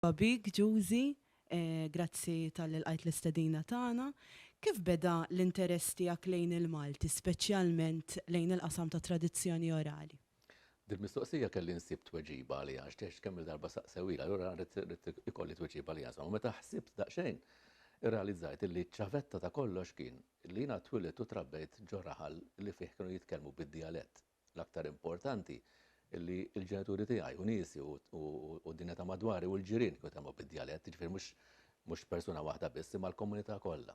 Merħba bik, Giusy. Grazzi talli lqajt l-istedina tagħna. Kif beda l-interess tiegħek lejn il-Malti, speċjalment lejn il-qasam tat-tradizzjoni orali? Dil-mistoqsija kelli nsib tweġiba għaliha għax text kemm-il darba saqsewhilha, allura ridt ikolli tweġiba għaliha. Insomma, meta ħsibt daqsxejn, irrealizzajt illi ċ-ċavetta ta' kollox kien li jiena twilidt u trabbejt ġo raħal li fih kienu jitkellmu bid-dijalett l-aktar importanti, li l-ġenituri tiegħi u niesi u d-dinja ta' madwari u l-ġirien kienu jitkellmu bid-djalett, jiġifieri mhux persuna waħda biss imma l-komunità kollha.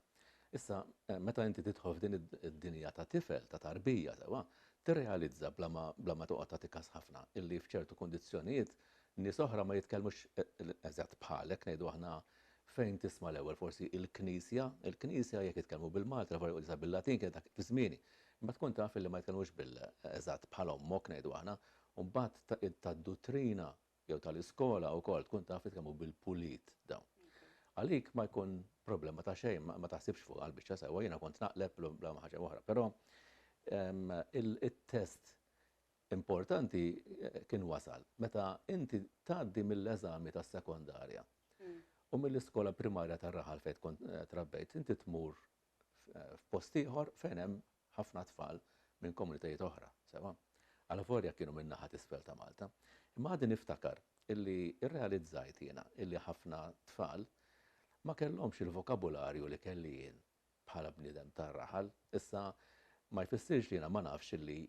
Issa, meta inti tidħol f'din id-dinja ta' tifel, ta' tarbija sewwa, tirrealizza bla ma toqgħod tagħti kas ħafna illi f'ċertu kundizzjonijiet nies oħra ma jitkellmux eżatt bħalek, ngħidu aħna Fejn tisma' l-ewwel forsi il-Knisja, il-Knisja jekk jitkellmu bil-Malti, l-aħbar jgħidu sa bil-Latin kienet dak fi żmieni. Imma tkun taf illi ma jitkellmux bil, eżatt bħal ommok ngħidu aħna, u mbagħad ta' tad-duttrina jew tal-iskola wkoll tkun taf jitkellmu bil-pulit dawn. Għalik ma jkun problema ta' xejn, ma, ma taħsibx fuqha l-biċċa sewwa, jiena kont naqleb bla ma ħaġa oħra. Però ehm, il-test importanti kien wasal meta inti tgħaddi mill-eżami tas-sekondarja u mill-iskola primarja tar-raħal fejn tkun trabbejt, inti tmur f'post ieħor fejn hemm ħafna tfal minn komunitajiet oħra, sewwa alavolja kienu min-naħa t'isfel ta' Malta. Imma għadni niftakar illi rrealizzajt jiena illi ħafna tfal ma kellhomx il-vokabularju li kelli jien bħala bniedem tar-raħal. Issa ma jfissirx li jiena ma nafx illi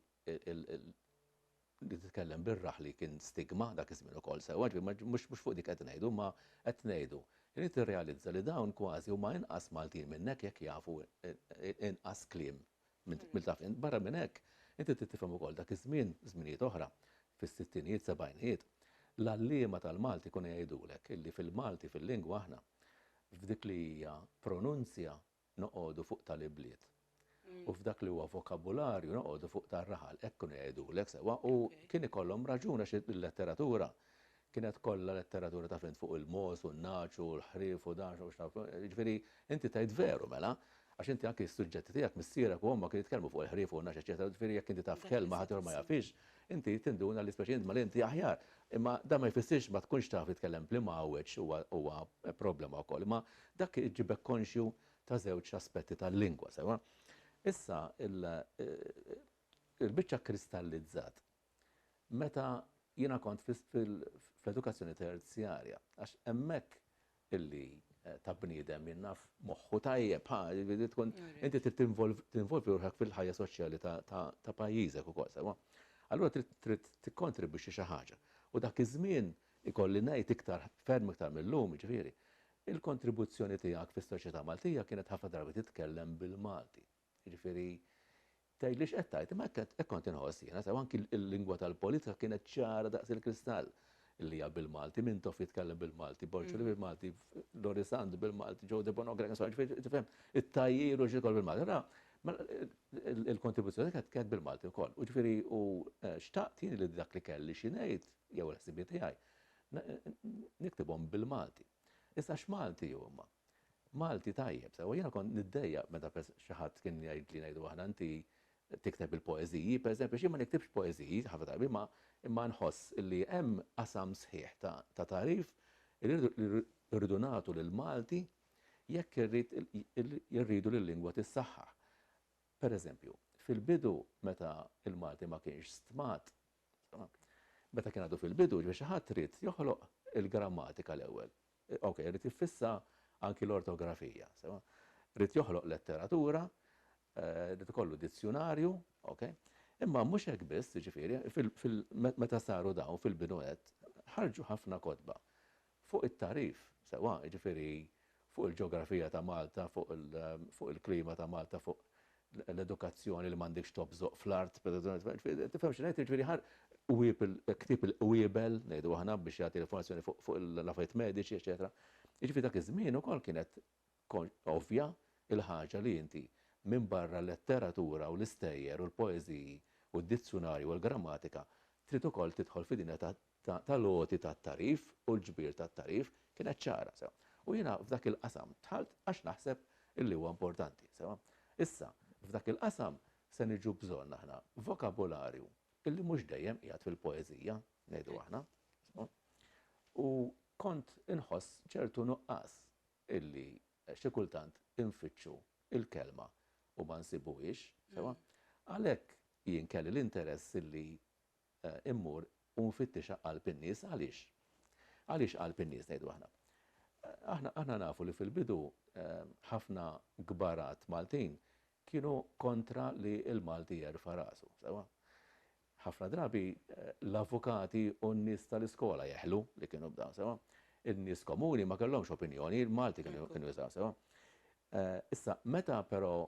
li titkellem bir-raħli kien stigma dak iż-żmien ukoll sewwa, ġifieri mhux fuq dik qed ngħidu, imma qed ngħidu li tirrealizza li dawn kważi huma inqas Maltin minnek jekk jafu inqas kliem mill dak. Barra minn hekk, inti trid tifhem ukoll dak iż-żmien, żminijiet oħra, fis-sittinijiet, sebgħinijiet, l-għalliema tal-Malti jkunu jgħidulek illi fil-Malti, fil-lingwa aħna, f'dik li hija pronunzja noqogħdu fuq tal-ibliet u f'dak li huwa vokabularju noqogħdu fuq tar-raħal, hekk kienu jgħidulek sewwa u kien ikollhom raġun għax il-letteratura Kienet kollha letteratura taf int fuq il-mogħoż u n-nagħaġ u l-ħrief u dan u x' naf, jiġifieri inti tgħid veru mela, għax inti anki s-suġġetti tiegħek missierek u ommok kienu jitkellmu fuq il-ħrief u n-nagħaġ eċċetera, jiġifieri jekk inti taf kelma ħaddieħor ma jafhiex, inti tinduna li speċjalment mela inti aħjar. Imma dan ma jfissirx ma tkunx taf titkellem bl-imgħawweġ huwa huwa problema wkoll. Imma dak iġibek konxju ta' żewġ aspetti tal-lingwa, sewwa? Issa il-biċċa kkristallizzat meta jiena kont fl-edukazzjoni terzjarja, għax hemmhekk illi eh, ta' bniedem jinnaf moħħu tajjeb, ha, jiġifieri tkun inti trid tinvolvi ruħek fil-ħajja soċjali ta' pajjiżek ukoll sewa. Allura trid tikkontribwixxi xi ħaġa. U dak iż-żmien ikolli ngħid iktar ferm iktar mill-lum, ġifieri, il-kontribuzzjoni tiegħek fis-soċjetà Maltija kienet ħafna drabi titkellem bil-Malti. Jiġifieri, tgħid li x'qed tgħid, imma hekk hekk kont inħoss jiena, sew anki l-lingwa tal-politika kienet ċara daqs il-kristall, li hija bil-Malti, Mintoff jitkellem bil-Malti, Borċoli bil-Malti, Loris Sant bil-Malti, Joe Debonogra, insomma, ġifieri tifhem, it-tajjir u x'ikol bil-Malti. Ra, mela, il-kontribuzzjoni kienet kienet bil-Malti wkoll. U ġifieri u eh, xtaqt jien li dak li kelli xi ngħid jew l-ħsibiet tiegħi n- n- niktibhom bil-Malti. Issa x'Malti huma? Malti tajjeb sewwa. Jiena kont niddejjaq meta xi ħadd kien jgħidli ngħidu aħna inti tikteb il-poeżiji, pereżempju, għax jien ma niktibx poeżiji ħafna drabi imma imma nħoss li hemm qasam sħiħ ta' ta' tagħrif li rridu nagħtu lill-Malti jekk irrid irridu li l-lingwa tissaħħaħ. Pereżempju, fil-bidu meta l-Malti ma kienx stmat, meta kien għadu fil-bidu, ġifieri xi ħadd ried joħloq il-grammatika l-ewwel. Ok, irid jiffissa anki l-ortografija, sewa? Irid joħloq letteratura, irid ikollu dizzjunarju, ok? Imma mhux hekk biss, jiġifieri, meta saru dawn fil-bidu nett, ħarġu ħafna kotba fuq it-tagħrif, sewa, jiġifieri fuq il-ġeografija ta' Malta, fuq il-klima ta' Malta, fuq l-edukazzjoni li m'għandekx tobżoq fl-art, tifhem xi ngħid, jiġifieri ħa qwieb ktieb il-qwiebel, ngħidu aħna, biex jagħti l-informazzjoni fuq l-affarijiet mediċi, eċetera. Jiġifieri dak iż-żmien ukoll kienet ovvja l-ħaġa li inti minbarra l-letteratura u l-istejjer u l-poeżiji u d-dizzjunarji u l-grammatika trid ukoll tidħol fid-dinja ta' tal-għoti tat-tagħrif u l-ġbir tat-tagħrif kienet ċara, sewa. U jiena f'dak il-qasam dħalt għax naħseb illi huwa importanti, sewa. Issa, f'dak il-qasam se niġu bżonn aħna vokabularju illi mhux dejjem qiegħed fil-poeżija, ngħidu aħna, sewa. U kont inħoss ċertu nuqqas illi xi kultant infittxu l-kelma u ma nsibuhiex, sewa. Għalhekk jien kelli l-interess illi immur u nfittixha qalb in-nies. Għaliex? Għaliex qalb in-nies, ngħidu aħna? Aħna, aħna nafu li fil-bidu ħafna kbarat Maltin kienu kontra li l-Malti jerfa' rasu, sewwa? Ħafna drabi l-avukati u n-nies tal-iskola jeħlu li kienu bdew, sewwa? In-nies komuni ma kellhomx opinjoni, il-Malti kienu, kienu jużaw, sewwa? Issa, meta però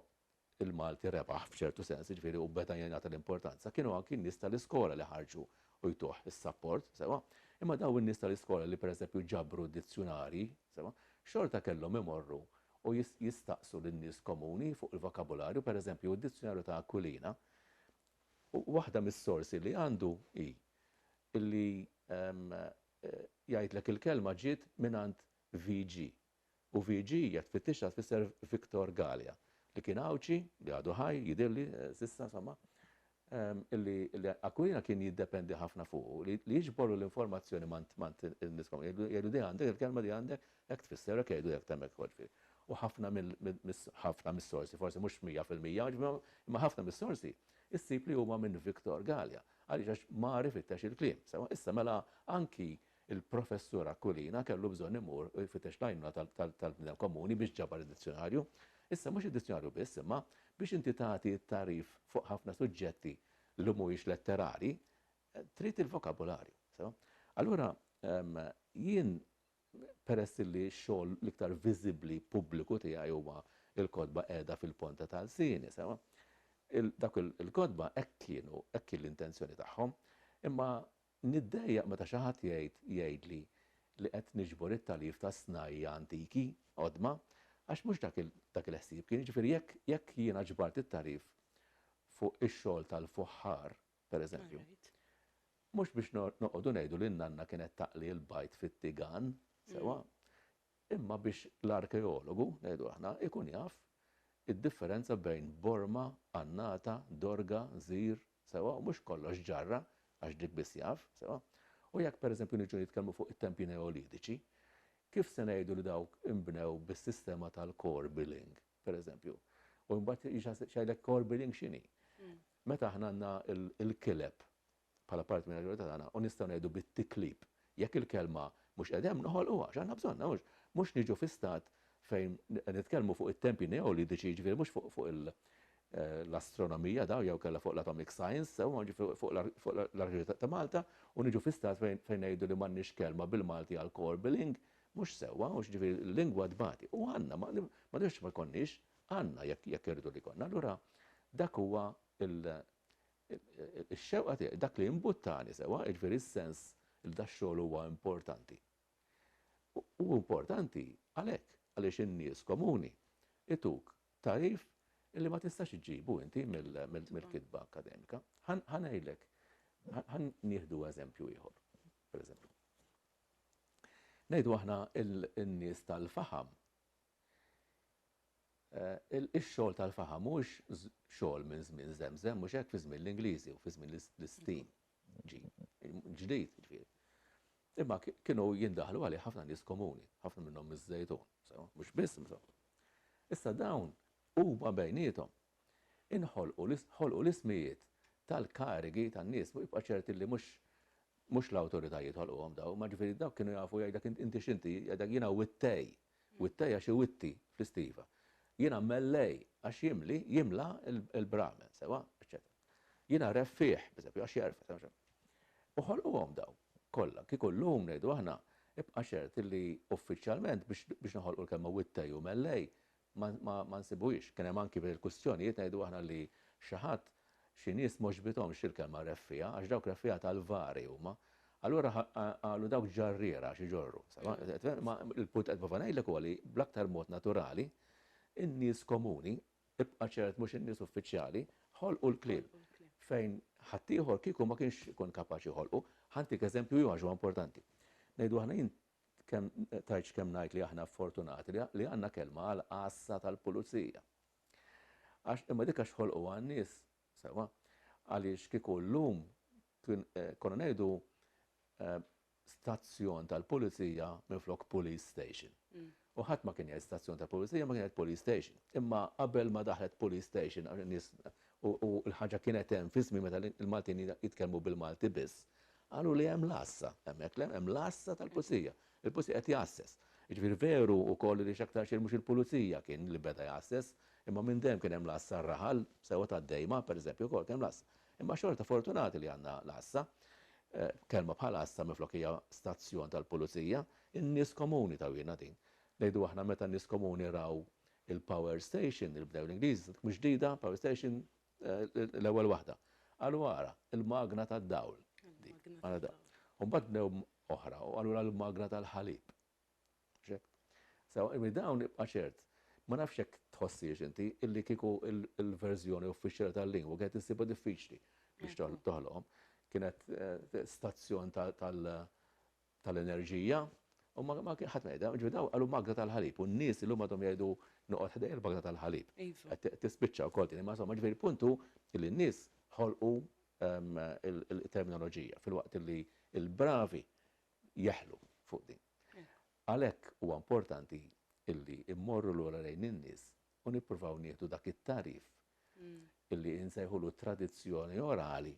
il-Malti rebaħ f'ċertu sens, jiġifieri u beda jingħata l-importanza, kienu anki n-nies tal-iskola li ħarġu u jtuh is-sapport, sewwa. Imma dawn in-nies tal-iskola li pereżempju ġabru d-dizzjunarji, sewwa, xorta kellhom imorru u jistaqsu lin-nies komuni fuq il-vokabularju, pereżempju d-dizzjunarju ta' Aquilina, waħda mis-sorsi li għandu hi li jgħidlek il-kelma ġiet mingħand VG, u VG hija tfittixha tfisser Victor Galea, li kien Għawdxi, li għadu ħaj, jidhirli, s'issa insomma, li Aquilina kien jiddependi ħafna fuqu, li jiġborlu l-informazzjoni mant mant in-nies kollha, jgħidlu di għandek, il-kelma di għandek hekk tfisser, hekk jgħidu hekk t'hemmhekk ukoll ġifieri. U ħafna mill mis ħafna mis-sorsi, forsi mhux mija fil-mija, imma ħafna mis-sorsi ssib li huma minn Victor Galea. Għaliex għax mar ifittex il-kliem. Sewwa, issa mela anki Il-Professur Aquilina kellu bżonn imur u jfittex l-għajnuna tal-bniedem komuni biex ġabar id-dizzjonarju. Issa mhux id-dizzjonarju biss, imma biex inti tagħti t-tagħrif fuq ħafna suġġetti li mhuwiex letterali, trid il-vokabularju. Sew? Allura, jien peress li x-xogħol l-iktar viżibbli pubbliku tiegħi huwa l-kotba qiegħda fil-ponta ta' lsieni, sew? Dak il-kotba hekk kienu, hekk kien l-intenzjoni tagħhom, imma Niddejjaq meta xi ħadd jgħid jgħidli li qed niġbor it-tagħlif ta' snajja' antiki, qodma, għax mhux dak dak il-ħsieb kien, jiġifieri jekk jekk jiena ġbart it-tagħlif fuq ix-xogħol tal-fuħħar, per eżempju, mhux biex noqogħdu ngħidu li n-nanna kienet taqli l-bajd fit-tigan, sewwa, Imma biex l-arkeologu, ngħidu aħna, ikun jaf id-differenza bejn borma, annata, dorga, żir, sewwa, u mhux kollox ġarra, għax dik biss jaf, sewwa. U jekk pereżempju niġu nitkellmu fuq it-tempji Neolitiċi, kif se ngħidu li dawk inbnew bis-sistema tal-core billing, pereżempju? U mbagħad jgħidlek core billing x'inhi? Meta aħna għandna l-kileb bħala parti mill-maġġorità tagħna u nistgħu ngħidu bit-tiklib, jekk il-kelma mhux qiegħda hemm noħolquha għax aħna bżonnha mhux mhux niġu fi stat fejn nitkellmu fuq it-tempji neolidiċi jiġifieri mhux fuq fuq il l-astronomija daw jew kellha fuq l-atomic science sew ma jiġifieri fuq l-arkitettura ta' Malta u niġu fi stat fejn fejn ngħidu li m'għandniex kelma bil-Malti għal core billing mhux sewwa mhux jiġifieri l-lingwa tbati u għandna ma ma nifhimx ma jkollniex għandna jekk jekk irridu li jkollna allura dak huwa il Ix-xewqa tiegħi, dak li imbuttani sewwa, jiġifieri s-sens li dax-xogħol huwa importanti. Hu importanti għalhekk, għaliex in-nies komuni jtuk tagħrif li ma tistax iġġibu inti mill-kitba akkademika. Ħa ngħidlek, ħa nieħdu eżempju ieħor, pereżempju. Ngħidu aħna n-nies tal-faħam Ix-xogħol tal-faħam mhuwiex xogħol minn żmien żemżem, mhux hekk, fi żmien l-Ingliżi u fi żmien l-istin ġdid, jiġifieri. Imma kienu jindaħlu għalih ħafna nies komuni, ħafna minnhom miż-Żejtun, sewwa, mhux biss minn fuq. Issa dawn huma bejniethom inħolqu ħolqu l-ismijiet tal-karigi tan-nies, jibqa' ċert illi mhux mhux l-awtoritajiet ħolquhom dawn, imma ġifieri dawk kienu jafu jgħidlek inti x'inti, jgħidlek jiena wittej, Wittej għax iwitti fl-istiva. Jiena mellej għax jimli, jimla, il-bramen, sewwa, eċċetera. Jiena reffiegħ, pereżempju, għax jerfed. U ħolquhom dawn kollha. Kieku llum ngħidu aħna, ibqa' ċert li uffiċjalment biex noħolqu l-kelma wittej u mellej ma nsibuhiex. Kien hemm anki f'dil-kwistjonijiet ngħidu aħna li xi ħadd Xi nies m'għoġbithomx il-kelma reffiegħa għax dawk reffiegħa tal-vari huma. Allura qalu dawk ġarriera għax iġorru. Ma l-punt qed nipprova ngħidlek huwa li bl-aktar mod naturali in-nies komuni, ibqa' ċert mhux in-nies uffiċjali, ħolqu l-kliem fejn ħaddieħor kieku ma kienx ikun kapaċi joħolqu. Ħa ntik eżempju ieħor għax huwa importanti. Ngħidu aħna jien kemm tgħidx kemm ngħid li aħna fortunati li għandna kelma għall-għassa tal-pulizija. Għax imma dik għax ħolquha n-nies, sewwa, għaliex kieku llum kien konna ngħidu stazzjon tal-pulizija minflok police station. U ħadd ma kien jgħid stazzjon tal-pulizija ma kien jgħid police station. Imma qabel ma daħlet police station għax in-nies u l-ħaġa kienet hemm fi żmien meta l-Maltin jitkellmu bil-Malti biss, qalu li hemm l-għassa hemmhekk le, hemm l-għassa tal-pulizija. Il-Pulizija qiegħed jgħasses. Jiġifieri veru wkoll li x'aktarx jien mhux il-Pulizija kien li beda jgħasses, imma minn dejjem kien hemm l-għassa r-raħal sewwa tad-Dejma, pereżempju, wkoll kien hemm l-għassa. Imma xorta fortunati li għandna l-għassa. Kelma bħal għassa minflok hija stazzjon tal-Pulizija. In-nies komuni tawhielna din. Ngħidu aħna meta n-nies komuni raw il-power station li bnew l-Ingliżi, dik mhux ġdida, power station, L-ewwel waħda. Qalu ara, il-magna tad-dawl. U mbagħad bnew oħra u qalu l-magna tal-ħalib. Sew, dawn ibqa' ċert. Ma nafx jekk tħossiex inti illi kieku l-verżjoni uffiċjali tal-lingwa kienet issibha diffiċli biex toħloqhom. Kienet stazzjon tal- tal-enerġija u ma ma kien ħadd ma jgħidha, ġifieri dawn qalu magna tal-ħalib u n-nies illum għadhom jgħidu noqgħod ħdejja l-bagna tal-ħalib. Iva. Qed qed tispiċċa wkoll din imma insomma ġifieri l-punt hu li n-nies ħolqu ehm, il- il- terminoloġija filwaqt li l-bravi jeħlu fuq din. Għalhekk huwa importanti illi immorru lura lejn in-nies u nippruvaw nieħdu dak it-tagħrif li nsejħulu tradizzjoni orali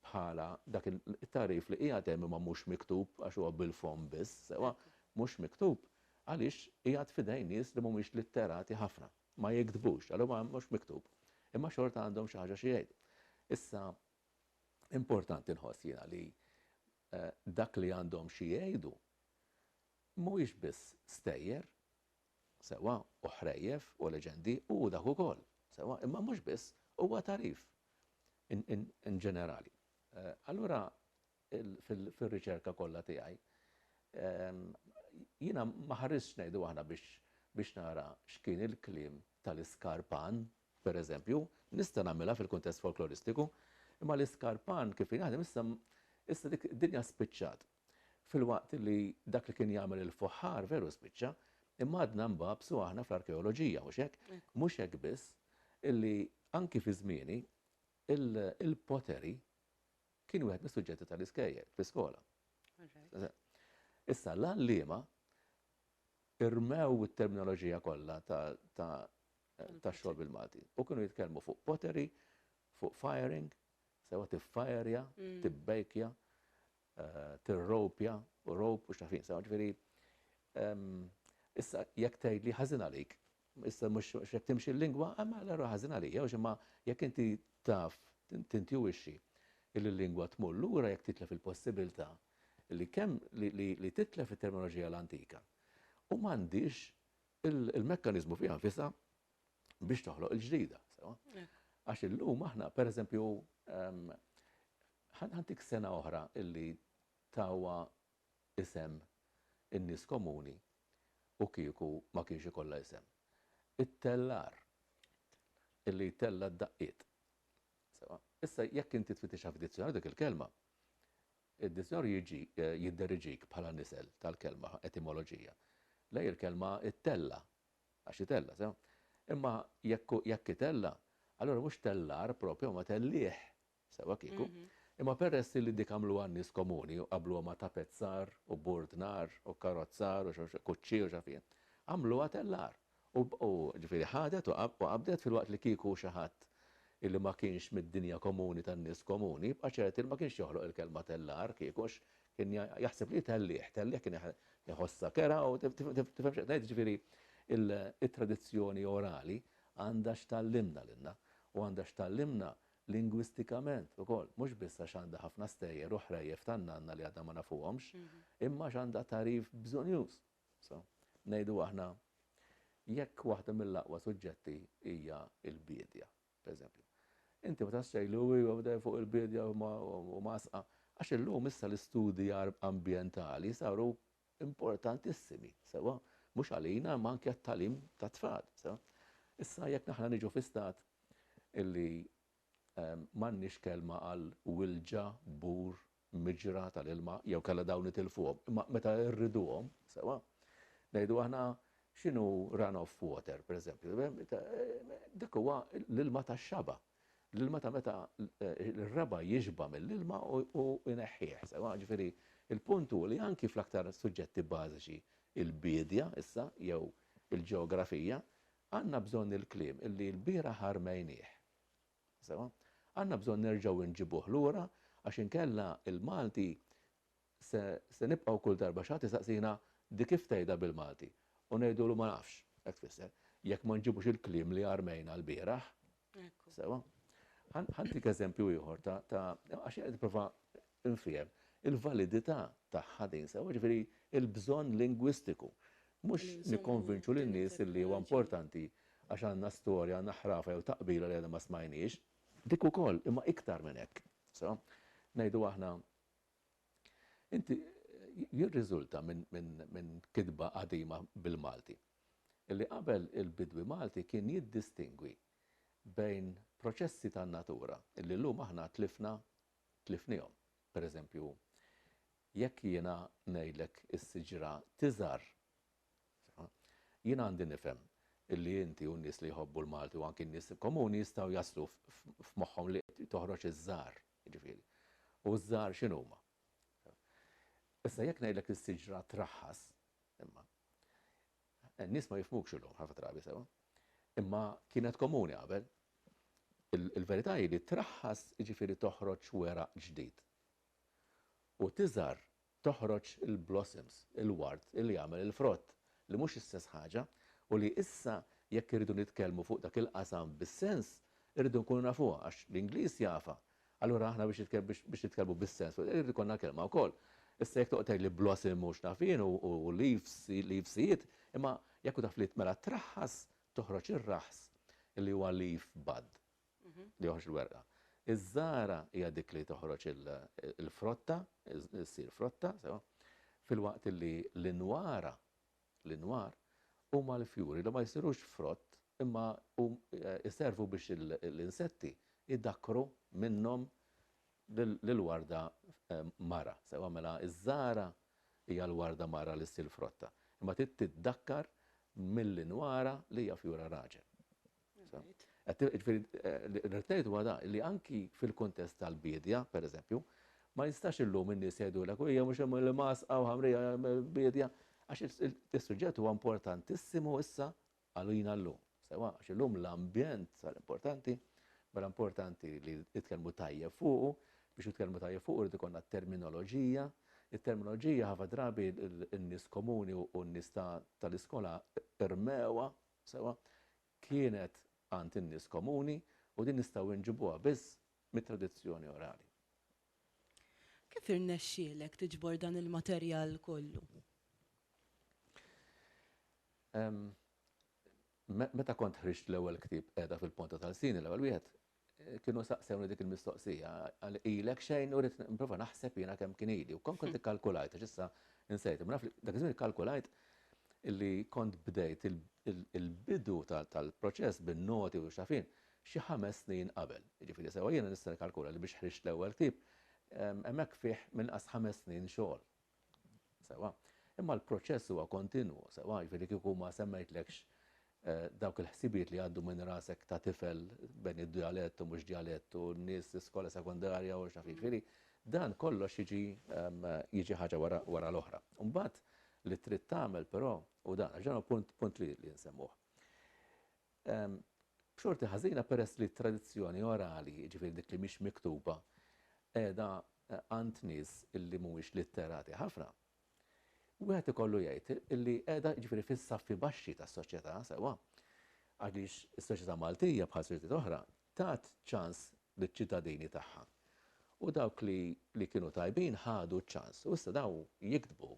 bħala dak it-tagħrif li qiegħed hemm imma mhux miktub għax huwa bil-fomm biss, sewwa mhux miktub għaliex qiegħed f'idejn nies li mhumiex litterati ħafna, ma jiktbux, għalhekk huwa mhux miktub. Imma xorta għandhom xi ħaġa xi jgħidu. Issa importanti nħoss jiena li dak li għandhom xi jgħidu mhuwiex biss stejjer Sewwa, u ħrejjef, u leġendi, u hu dak ukoll. Sewwa, imma mhux biss, huwa tagħrif in ġenerali. Allura fir-riċerka kollha tiegħi jiena ma ħaristx ngħidu aħna biex nara x'kien il-kliem tal-iskarpan, pereżempju, nista' nagħmilha fil-kuntest folkloristiku, imma l-iskarpan kif kien jaħdem issa issa dik id-dinja spiċċat. Filwaqt li dak li kien jagħmel il-fuħħar veru spiċċa, imma għadna nbagħbsu aħna fl-arkeoloġija, mhux hekk? Mhux hekk biss, illi anki fi żmieni, il-pottery kien wieħed mis-suġġetti tal-iskejjel fl-iskola. Issa l-għalliema irmew it-terminoloġija kollha ta' xogħol bil-Malti u kienu jitkellmu fuq pottery, fuq firing, sewa tiffajerja, mm. tibbejkja, tirropja u rope u x'naf jien, insomma, ġifieri issa jekk tgħidli ħażin għalik, issa mhux hekk timxi l-lingwa, imma allura ħażin għalija, għax imma jekk inti taf tintuwixxi li l-lingwa tmur lura jekk titlef il-possibilità li kemm li titlef it-terminoloġija l-antika u m'għandhiex il-mekkaniżmu fiha nfisha biex toħloq il-ġdida, sewwa. Għax illum aħna, pereżempju, Ħa ntik sena oħra illi tawha isem in-nies komuni u kieku ma kienx ikollha isem. It-tellar illi jtella' d-daqqiet. Sewwa, issa jekk inti tfittixha f'dizzjonarju dik il-kelma, id-dizzjonarju jiġi jidderiġik bħala nisel tal-kelma, etimoloġija, lejn il-kelma ittella', għax itella', sewwa. Imma jekk jekk itella', allura mhux tellar proprju imma tellieħ, Sewwa kieku. Imma peress li dik għamluha n-nies komuni u qabbluha ma' tapezzar u bord nar u kkarrozzar u kuċċi u x'af jien. Għamluha tellar. U, u, ġifieri ħadet u u qabdet filwaqt li kieku xi ħadd illi ma kienx mid-dinja komuni tan-nies komuni jibqa' ċert illi ma kienx joħloq il-kelma tellar kieku għax kien jaħseb li hi tellieħ. Tellieħ kien iħossha kerha u tifhem x'qed ngħid? Ġifieri it-tradizzjoni orali għandha x'tgħallimna lilna u għandha x'tgħallimna lingwistikament ukoll, mhux biss għax għandha ħafna stejjer u ħrejjef tan-nanna li għadna ma nafuhomx, imma għax għandha tagħrif bżonnjuż. So, ngħidu aħna, jekk waħda mill-aqwa suġġetti hija l-biedja, pereżempju. Inti ma tafx tgħidlu iva bdej fuq il-biedja u mgħassqa, għax illum issa l-istudji ambjentali saru importantissimi, sewwa mhux għalina imma anke għat-tagħlim tat-tfal, sewwa. Issa jekk aħna niġu fi stat illi m'għandniex kelma għal wilġa, bur, miġra tal-ilma jew kellha dawn nitilfuhom, imma meta rriduhom, sewwa, ngħidu aħna x'inhu run-off water, pereżempju, dak huwa l-ilma tax-xaba, L-ilma ta' meta r-raba' jixba' mill-ilma u jneħħih, sewwa. Ġifieri, il-punt hu li anki fl-aktar suġġetti bażiċi, il-biedja issa jew il-ġeografija, għandna bżonn il-kliem illi l-bieraħ armejnieh. Sewwa? Għandna bżonn nerġgħu nġibuh lura għax inkella l-Malti Se nibqgħu kull darba xi ħadd isaqsina di kif tgħidha bil-Malti? U ngħidulu ma nafx x'hekk tfisser. Jekk ma nġibux il-kliem li armejna lbieraħ. Sewwa? Ħa ntik eżempju ieħor ta' għax jien qed nipprova nfiehem il-validità tagħha din, sewwa? Jiġifieri l-bżonn lingwistiku. Mhux nikkonvinċu lin-nies illi huwa importanti għax għandna storja, għandna ħrafa jew taqbila li għadna ma smajniex. Dik ukoll, imma iktar minn hekk. Sewwa? Ngħidu aħna Inti jirriżulta minn kitba qadima bil-Malti li qabel il-bidwi Malti kien jiddistingwi bejn proċessi tan-natura li llum aħna tlifna tlifniehom. Per eżempju, jekk jiena ngħidlek is-siġra tiżgħar, jien għandi nifhem li inti u n-nies li jħobbu l-Malti u anki n-nies komuni jistgħu jaslu f'moħħhom li toħroġ iż-żgħar. jiġifieri, u ż-żgħar x'inhuma? Issa jekk ngħidlek li s-siġra traħħas, imma n-nies ma jifhmukx illum ħafna drabi sewwa, imma kienet komuni qabel. Il-verità hi li traħħas jiġifieri toħroġ weraq ġdid u tiżgħar toħroġ il-blossoms, il-ward li jagħmel il-frott, li mhux istess ħaġa, u li issa jekk irridu nitkellmu fuq dak il-qasam bis-sens, irridu nkunu nafuha għax l-Ingliż jafha. Allura aħna biex biex nitkellmu bis-sens fuq irid ikollna kelma wkoll. Issa jekk toqgħod tgħidli blossom u x'naf jien u leaves, leavesijiet, imma jekk hu taf li mela traħħas toħroġ ir-raħs li huwa leaf bud. li joħroġ il-werqa. Iż-żgħara hija dik li toħroġ il-frotta, issir frotta, sewa, filwaqt li l-inwara, l-inwar, huma l-fjuri li ma jsirux frott imma jservu biex l-insetti jdakkru minnhom lill-warda mara, sewa, mela iż-żgħara hija l-warda mara li ssir frotta, imma trid tiddakkar mill-inwara li hija fjura raġel. Rrid ngħid huwa da, li anki fil-kuntest tal-biedja, pereżempju, ma jistax illum in-nies jgħidulek u hija mhux hemm l-imgħasqa u ħamrija biedja, għax is-suġġett huwa importantissimu issa għalina llum. Sewwa, għax illum l-ambjent sar importanti, mela importanti li jitkellmu tajjeb fuqu, biex jitkellmu tajjeb fuqu rrid ikollna terminoloġija, it-terminoloġija ħafna drabi n-nies komuni u n-nies tal-iskola rmewha Sewwa, kienet għand in-nies komuni u din nistgħu inġibuha biss mit-tradizzjoni orali. Kif irnexxielek tiġbor dan il-materjal kollu? Meta kont ħriġt l-ewwel ktieb Qiegħda fil-Ponta ta' Lsini, l-ewwel wieħed, kienu saqsewni dik il-mistoqsija, għal ilek xejn u rrit nipprova naħseb jiena kemm kien ili. U kont kont ikkalkulajt, għax issa insejt, imma naf li dak iż-żmien ikkalkulajt li kont bdejt il-bidu tal-proċess bin-noti u x'afin xi ħames snin qabel. Jiġifieri sewwa jiena nista' nikkalkula li biex ħriġt l-ewwel ktieb hemmhekk fih minn inqas ħames snin xogħol. Sewwa. Imma l-proċess huwa kontinwu, sewwa, jiġifieri kieku ma semmejtlekx dawk il-ħsibijiet li jgħaddu minn rasek ta' tifel bejn id-djalett u mhux djalett u n-nies l-iskola sekondarja u x'naf jien. Jiġifieri dan kollox jiġi jiġi ħaġa wara wara l-oħra. U mbagħad li trid tagħmel però hu dan, għax dan hu punt punt li li nsemmuh. b'xorti ħażina peress li t-tradizzjoni orali, jiġifieri dik li mhix miktuba, qiegħda għand nies li mhumiex litterati ħafna. Wieħed ikollu jgħid li qiegħda jiġifieri fis-saffi baxxi tas-soċjetà sewwa, għaliex is-soċjetà Maltija bħal soċjetajiet oħra tat ċans liċ-ċittadini tagħha u dawk li li kienu tajbin ħadu ċ-ċans u issa dawn jiktbu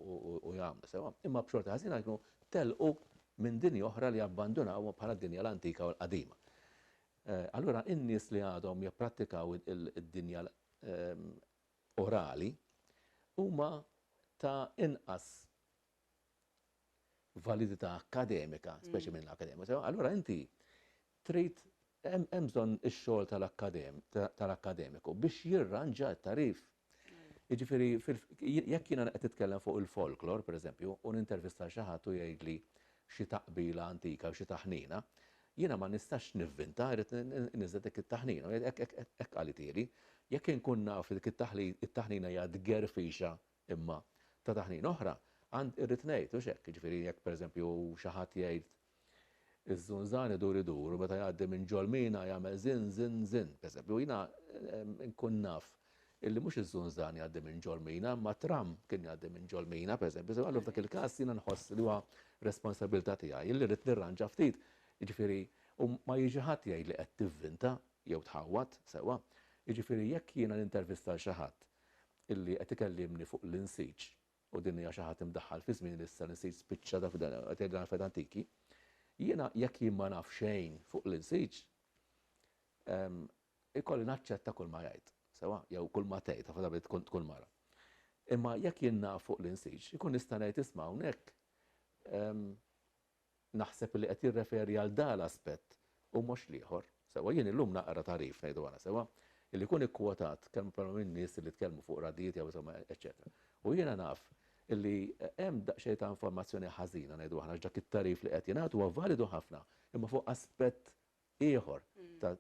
u jagħmlu sewwa imma b'xorti ħażina jkunu telqu minn dinja oħra li abbandunawha bħala d-dinja l-antika u l-qadima. Allura in-nies li għadhom jipprattikaw id-dinja orali huma ta' inqas validità akkademika, mm. speċi minn l-akademika, sewa, allura inti trid hemm bżonn ix-xogħol tal-akademiku biex jirranġa t-tarif. Mm. Jiġifieri jekk jiena qed titkellem fuq il-folklor, pereżempju, u nintervista xi ħadd u jgħidli xi taqbila antika u xi taħnina, jiena ma nistax nivvinta, rrid niżel dik it-taħnina, hekk qalitieli, jekk inkun naf dik it-taħnina hija tgerfixa Imma, ta' taħnina oħra, għand, irrid ngħid, hux hekk, jiġifieri jekk pereżempju xi ħadd jgħid, Iż-żunżan idur idur u meta jgħaddi minn ġol mina jagħmel żinn, żinn, żinn, pereżempju, jiena nkun naf illi mhux iż-żunżan jgħaddi minn ġol mina, imma t-tramm kien jgħaddi minn ġol mina, pereżempju, allura f'dak il-każ jiena nħoss li huwa responsabilità tiegħi illi rrid nirranġa ftit, jiġifieri, u ma jiġi ħadd jgħidli qed tivvinta jew tħawwad, sewwa, jiġifieri jekk jiena nintervista lil xi ħadd illi qed ikellimni fuq l-insiġ, u din hija xi ħadd imdaħħal fi żmieni li issa l-insiġ spiċċa taf qed jgħidilna l-affarijiet antiki. Jiena jekk jien ma naf xejn fuq l-insiġ, ikolli naċċetta kulma jgħid, sewwa, jew kulma tgħid, ħafna drabi tkun tkun mara. Imma jekk jien naf fuq l-insiġ, inkun nista' ngħid isma' hawnhekk Naħseb li qed jirreferi għal dan l-aspett u mhux l-ieħor. Sewwa, jien illum naqra tagħrif, ngħidu għala sewwa, li jkun ikkwotat kemm bħalma minn nies li tkellmu fuq radijiet jew insomma eċċetera. U jiena naf li hemm daqsxejn ta' informazzjoni ħażina ngħidu aħna għax dak it-tagħrif li qed jingħad huwa validu ħafna imma fuq aspett ieħor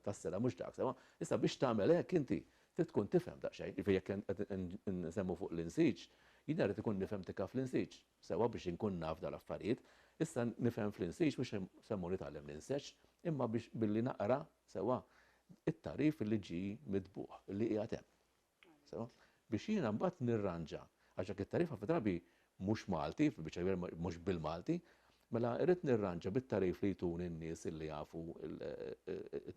tas-sena mhux dak. Sewwa, issa biex tagħmel hekk inti trid tkun tifhem daqsxejn. Jiġifieri jekk qed insemmu fuq l-insiġ, jien irrid ikun nifhem tikka fl-insiġ, sewwa, biex inkun naf dawn l-affarijiet. Issa nifhem fl-insiġ mhux semmu nitgħallem l-inseġ, imma biex billi naqra, sewwa, it-tagħrif li ġie mitbugħ, li qiegħed hemm. Biex jiena mbagħad nirranġa, għax dak it-tagħrif ħafna drabi mhux Malti, fil-biċċa l-kbira mhux bil-Malti, mela irrid nirranġa bit-tagħrif li jtuni n-nies illi jafu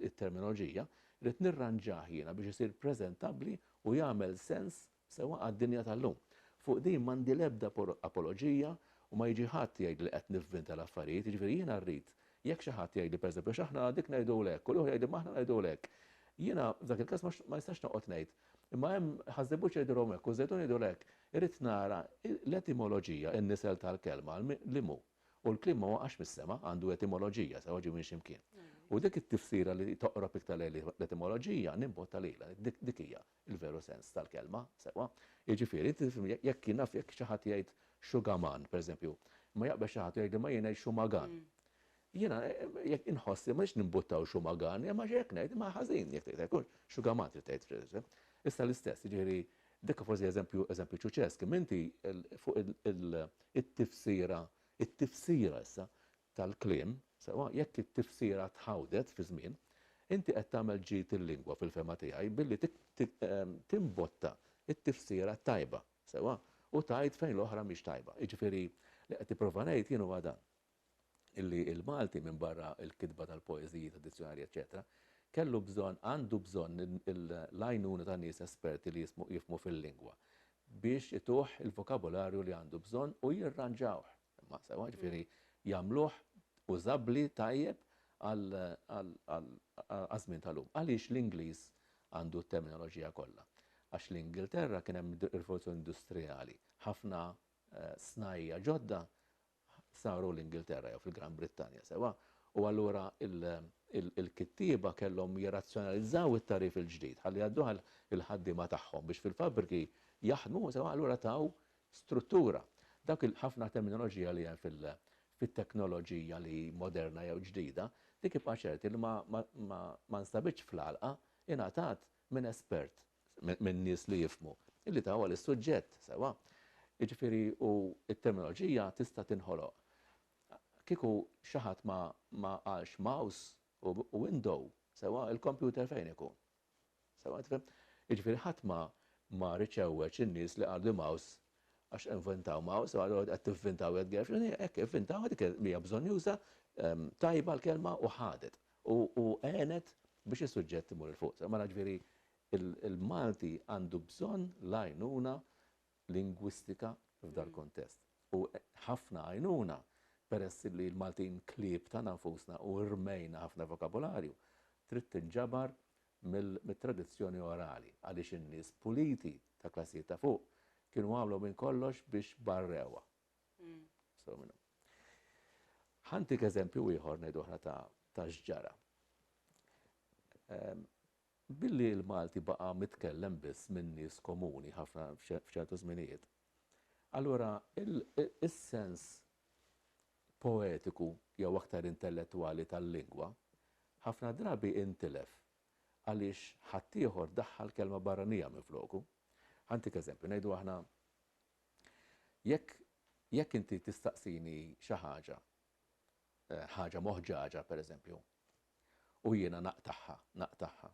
t-terminoloġija, irrid nirranġah jiena biex isir preżentabbli u jagħmel sens sewwa għad-dinja tal-lum. Fuq din m'għandi l-ebda apoloġija u ma jiġi ħadd jgħidli li qed nivvinta l-affarijiet, jiġifieri jiena rrid Jekk xi ħadd jgħidli, pereżempju, għax aħna dik ngħidulu hekk, u l-ieħor jgħidli imma aħna ngħidulu hekk. Jiena, f'dak il-każ, ma nistax noqgħod ngħid, imma hemm ħaż-Żebbuġ jgħidulhom hekk u ż-Żejtun jgħidulu hekk. Irrid nara l-etimoloġija, in-nisel tal-kelma, li mhu. U l-kliem ma waqax mis-sema, għandu etimoloġija, sewa ġie minn xi mkien. U dik it-tifsira li toqrob iktar lejn l-etimoloġija, nimbotta lilha. Dik hija. il-veru sens tal-kelma, sewwa. Jiġifieri, jekk jien naf jekk xi ħadd jgħid xugaman, pereżempju, imma jaqbeż xi ħadd u jgħidli ma jien ngħid xumagan. Jiena jekk inħoss li m'għandx nimbuttaw xumagan, imma jekk ngħid ma ħażin jekk tgħid hekk, xugaman trid tgħid. Issa l-istess, jiġifieri dak forsi eżempju eżempju ċuċesk, imma inti fuq it-tifsira, it-tifsira issa, tal-kliem, sewwa jekk it-tifsira tħawdet fiż-żmien, inti qed tagħmel ġid il-lingwa fil-fehma tiegħi billi timbotta t-tifsira t-tajba, sewwa, u tgħid fejn l-oħra mhix tajba. Jiġifieri, li qed nipprova ngħid jien huwa dan, illi l-Malti minbarra l-kitba tal-poeżiji, tad-dizzjonarji eċċetera, kellu bżonn, għandu bżonn l-għajnuna ta' nies esperti li jifhmu fil-lingwa biex ituh il-vokabularju li għandu bżonn u jirranġawh. Imma sewwa, ġifieri jagħmluh użabbli tajjeb għaż-żmien tal-lum. Għaliex l-Ingliż għandu t-terminoloġija kollha? Għax l-Ingilterra kien hemm ir-rivoluzzjoni industrijali. Ħafna snajja' ġodda saru l-Ingilterra jew fil-Gran Brittanja, sewwa? U allura il-kittieba kellhom jirrazzjonalizzaw it-tagħrif il-ġdid ħalli jgħadduh għall-ħaddiema tagħhom biex fil-fabbriki jaħdmu, sewwa? Allura taw struttura. Dawk il ħafna terminoloġija li hemm fil fit-teknoloġija li moderna jew ġdida, dik ibqa' ċerti li ma ma ma nstabitx fl-għalqa, ingħatat minn espert, minn nies li jifhmu, li tawha lis-suġġett, sewwa? Jiġifieri u t-terminoloġija tista' tinħoloq. Kieku xi ħadd ma ma qalx mouse u u window, sewwa, il-kompjuter fejn ikun? Jiġifieri ħadd ma ma riedx iħewweġ in-nies li qalu li Maus għax inventaw Maus, allura qed tivvintaw Ed Gershwin, hekk ivvintawha dik hija bżonjuża, tajba l-kelma u ħadet u u għenet biex is-suġġett imur 'il fuq. Mela ġifieri l-Malti għandu bżonn l-għajnuna lingwistika f'dal-kuntest. U ħafna għajnuna peress li l-Maltin klieb tagħna nfusna u rmejna ħafna vokabularju, trid tinġabar mit-tradizzjoni orali għaliex in-nies puliti ta' klassijiet ta' fuq kienu għamlu minn kollox biex barrewha. Sew minnhom. Ħa ntik eżempju ieħor ngħidu aħna ta' x'ġara. Billi l-Malti baqa' mitkellem biss minn nies komuni ħafna f'ċertu żminijiet, allura is-sens poetiku jew aktar intellettwali tal-lingwa ħafna drabi intilef għaliex ħaddieħor daħħal kelma barranija minfloku. Ħantik eżempju, ngħidu aħna jekk jekk inti tistaqsini xi ħaġa ħaġa moħġaġa, pereżempju, u jiena naqtagħha, naqtagħha,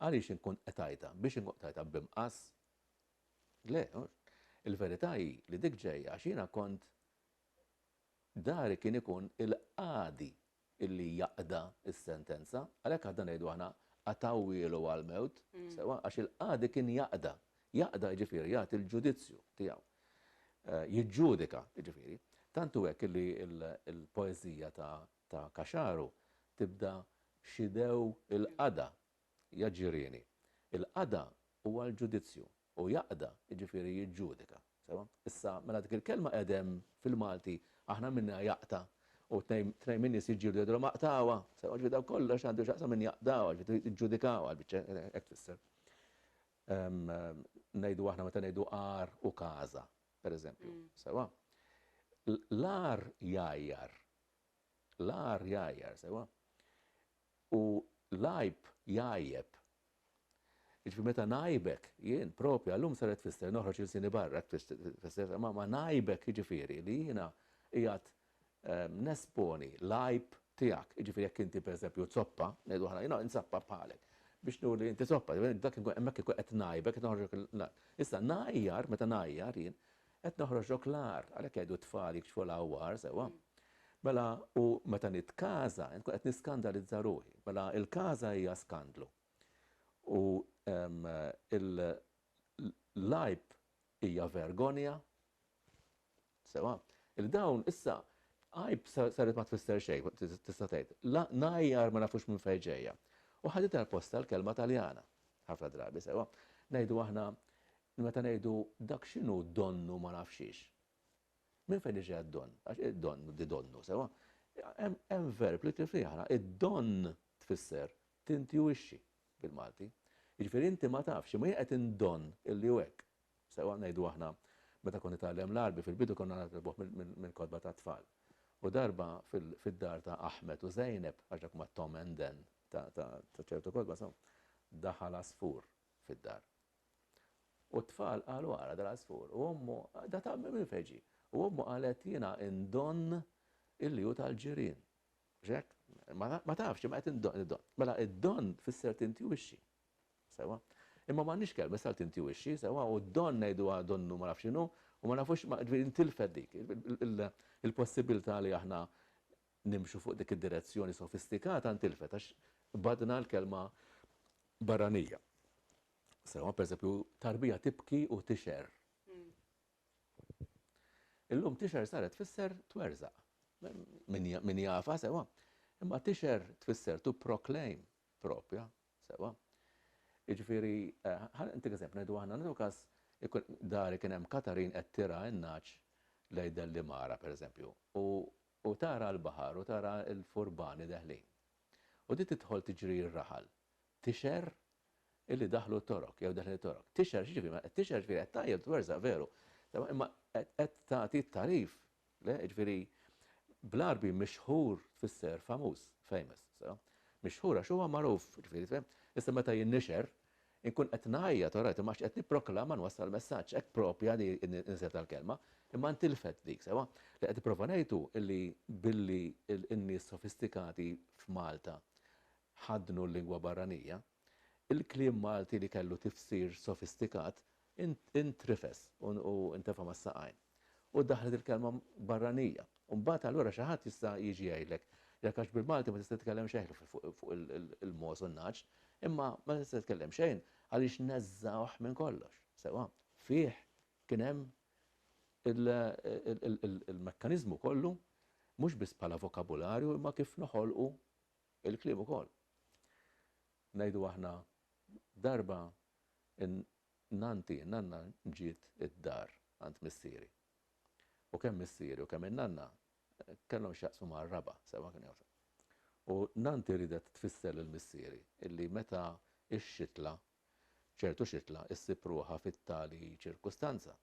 għaliex inkun qed għidha? Biex inkun qed għidha b'imqas? Le, mhux. Il-verità hi li dik ġejja għax jiena kont dari kien ikun il-qadi illi jaqda s-sentenza, għalhekk aħna ngħidu aħna qatgħuhielu għall-mewt, sewwa, għax il-qadi kien jaqda, Jaqda jiġifieri jagħti l-ġudizzju tiegħu. Jiġġudika, jiġifieri. Tant hu hekk li l-poeżija ta' Caxaru tibda b'xidew il-qada, ja ġirieni. Il-qada huwa l-ġudizzju u jaqda jiġifieri jiġġudika. Sewwa? Issa, mela dik il-kelma qedem fil-Malti aħna minniha jaqta' u tnejn min-nies jiġġieldu jgħidulhom aqtgħuha. Sewwa? Ġifieri dan kollox għandu x'jaqsam minn jaqtgħuha, ġifieri jiġġudikawha, l-biċċa hekk tfisser. ngħidu aħna meta ngħidu għar u każa, pereżempju. Sewwa? L-għar jgħajjar. L-għar jgħajjar, sewwa? U l-għajb jgħajjeb. Jiġifieri meta ngħajbek jien propju għallum saret tfisser noħroġ ilsieni barra, tfisser ma ngħajbek jiġifieri li jiena qiegħed nesponi l-għajb tiegħek, jiġifieri jekk inti pereżempju zoppa, ngħidu aħna jiena inzappa bħalek, biex nuri li inti zoppa, dak inkun hemmhekk inkun qed ngħajbek, qed noħroġlok l-agħar. Issa ngħajjar, meta ngħajjar jien, qed noħroġlok l-agħar, għalhekk jgħidu t-tfal jikxfu l-għawwar, sewwa? Mela u meta nitkaża inkun qed niskandalizza ruħi, mela l-każa hija skandlu. U l-għajb hija vergonja Sewa? Li dawn issa għajb saret ma tfisser xejn, tista' tgħid. La ngħajjar ma nafux minn fejn ġejja. U ħaditha l-postha l-kelma Taljana. Ħafna drabi, sewa? Ngħidu aħna meta ngħidu dak x'inhu donnu ma nafx xiex. Minn fejn iġi d-donn? Għax id-donn di donnu, sewa? Hemm verb li tifih aħna, id-donn tfisser tintjuwixxi bil-Malti. Jiġifieri inti ma tafx, imma jien qed indonn illi hu hekk. Sewwa ngħidu aħna, meta kont nitgħallem l-Għarbi fil-bidu konna nitgħallmuh mill-kotba tat-tfal. U darba fid-dar ta' Ahmed u Zeynep, għax dak huma t-Tom and Dan ta' ċertu kotba, insomma, daħal għasfur fid-dar. U t-tfal qalu ara dal-għasfur. U ommu, da ta' minn fejn ġie? U ommu qalet jiena indonn illi hu tal-ġirien. X'hekk? Ma tafx, imma qed indonn. Mela id-donn tfisser tintwixxi. Sewwa? Imma m'għandniex kelbes għal tintiwixxi, sewwa, u d-don ngħiduha donnu ma nafx x'inhu, u ma nafux ma ġifieri intilfet dik il-possibbiltà li aħna nimxu fuq dik id-direzzjoni sofistikata ntilfet għax qbadna l-kelma barranija. Sewwa, pereżempju, tarbija tibki u tixher. Illum tixher saret tfisser twerżaq. Min jafa sewwa. Imma tixher tfisser to proclaim propja, Sewwa. Jiġifieri, ħa ntik eżempju, ngħidu aħna, nagħtu każ ikun dari kien hemm Katarin qed tirgħa n-nagħaġ lejn Dellimara, pereżempju, u u tara l-baħar u tara l-furbani deħlin. U din tidħol tiġri r-raħal. Tixgħer illi daħlu t-Torok jew deħlin it-Torok. Tixgħer x'jiġifieri? Tixgħer jiġifieri qed tgħajjel twerzaq veru. Sewwa, imma qed tagħti t-tagħrif Le, jiġifieri bl-Għarbi mixħur tfisser famuż, famous, sew? Mixħur għax huwa magħruf, jiġifieri sew? Issa meta jinnixher, inkun qed ngħajjat, all right, imma għax qed nipproklama nwassal messaġġ, hekk proprja di n-nisel tal-kelma, imma ntilfet dik, sewwa? Li qed nipprova ngħid hu li billi n-nies sofistikati f'Malta ħaddnu l-lingwa barranija, il-kliem Malti li kellu tifsir sofistikat Intrifes u intefa' mas-saqajn. U daħlet il-kelma barranija. U mbagħad allura xi ħadd jista' jiġi jgħidlek, Jekk għax bil-Malti ma tista' titkellem xejn fuq il-mogħoż u n-nagħaġ, imma ma tista' titkellem xejn għaliex neżżgħuh minn kollox. Sewwa. Fih kien hemm il-mekkaniżmu kollu mhux biss bħala vokabularju imma kif noħolqu l-kliem ukoll. Ngħidu aħna darba In-nanti, in-nanna ġiet id-dar għand missieri. U kemm missieri u kemm in-nanna kellhom x'jaqsmu ma' r-raba', sewwa kienu jgħożżu. U nanti riedet tfisser lil missieri illi meta x-xitla, ċertu xitla, issib ruħha fit-tali ċirkustanza,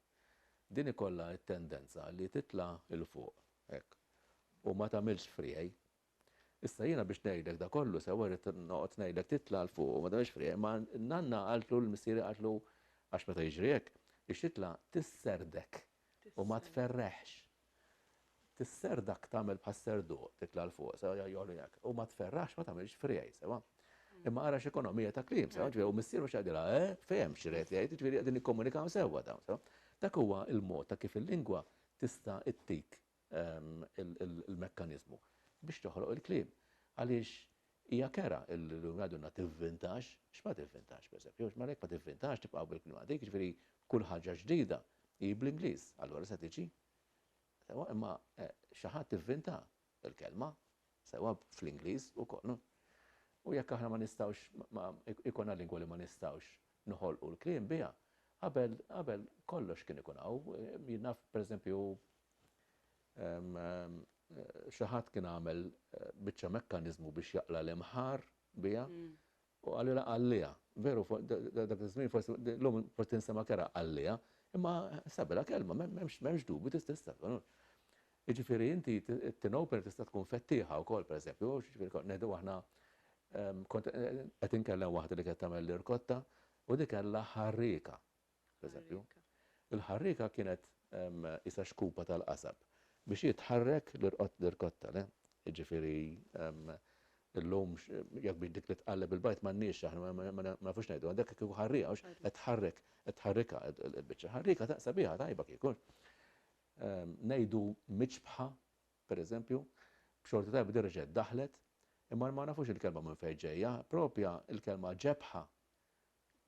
din ikollha t-tendenza li titla' 'l fuq hekk u ma tagħmilx friegħi Issa jiena biex ngħidlek da kollu sewwa rrid noqgħod ngħidlek titla' 'l fuq u ma tagħmilx friegħ imma n-nanna qaltlu l-missieri qaltlu għax meta jiġri hekk ix-xitla tisserdek u ma tferreħx. Tisserdak tagħmel bħas-serduq titla' 'l fuq sewwa jogħli hekk u ma tferraħx ma tagħmilx friegħ sewwa. Imma ara x'ekonomija ta' kliem sewwa ġifieri u missieru x'qed jgħidilha eh fehmx x'ried jgħid jiġifieri qegħdin jikkomunikaw sewwa dawn sewwa. Dak huwa l-mod ta' kif il-lingwa tista' ttik il-mekkaniżmu biex toħloq il-kliem. Għaliex hija kera li għadunna tivvintax, x'ma tivvintax pereżempju, x'ma jekk ma tivvintax tibqa' bil-kliem għadik, jiġifieri kull ħaġa ġdida hi bl-Ingliż, allura se tiġi. Sewwa imma eh, xi ħadd ivvinta l-kelma, sewwa fl-Ingliż ukoll. U jekk aħna ma nistgħux ma ikunha lingwa li ma nistgħux noħolqu l-kliem biha, qabel qabel kollox kien ikun hawn, eh, jinnaf pereżempju Xi ħadd kien għamel biċċa mekkaniżmu biex jaqla' l-imħarr biha u qalilha qalliha. Veru, dak iż-żmien forsi llum forsi tinstema' kerha qalliha, imma sabilha kelma m'hemmx dubju tista'. Jiġifieri inti tinopen tista' tkun fettieħa wkoll pereżempju, jiġifieri ngħidu aħna kont qed inkellem waħda li kienet tagħmel l-irkotta u di kellha ħarrieka. pereżempju, il-ħarrieka kienet qisha xkupa tal-qasab biex hi tħarrek l-irkotta, le? Jiġifieri, illum jekk biex dik li tqalleb il-bajd m'għandniex aħna, ma nafux ngħidu, dak kieku ħarrieka, hux? Qed tħarrek, qed tħarrikha l-biċċa. Ħarrieka sabiħa, tajba kieku. Ngħidu miċbħa, pereżempju, b'xorti tajba din reġgħet daħlet, imma ma nafux il-kelma minn fejn ġejja, proprja l-kelma ġebħa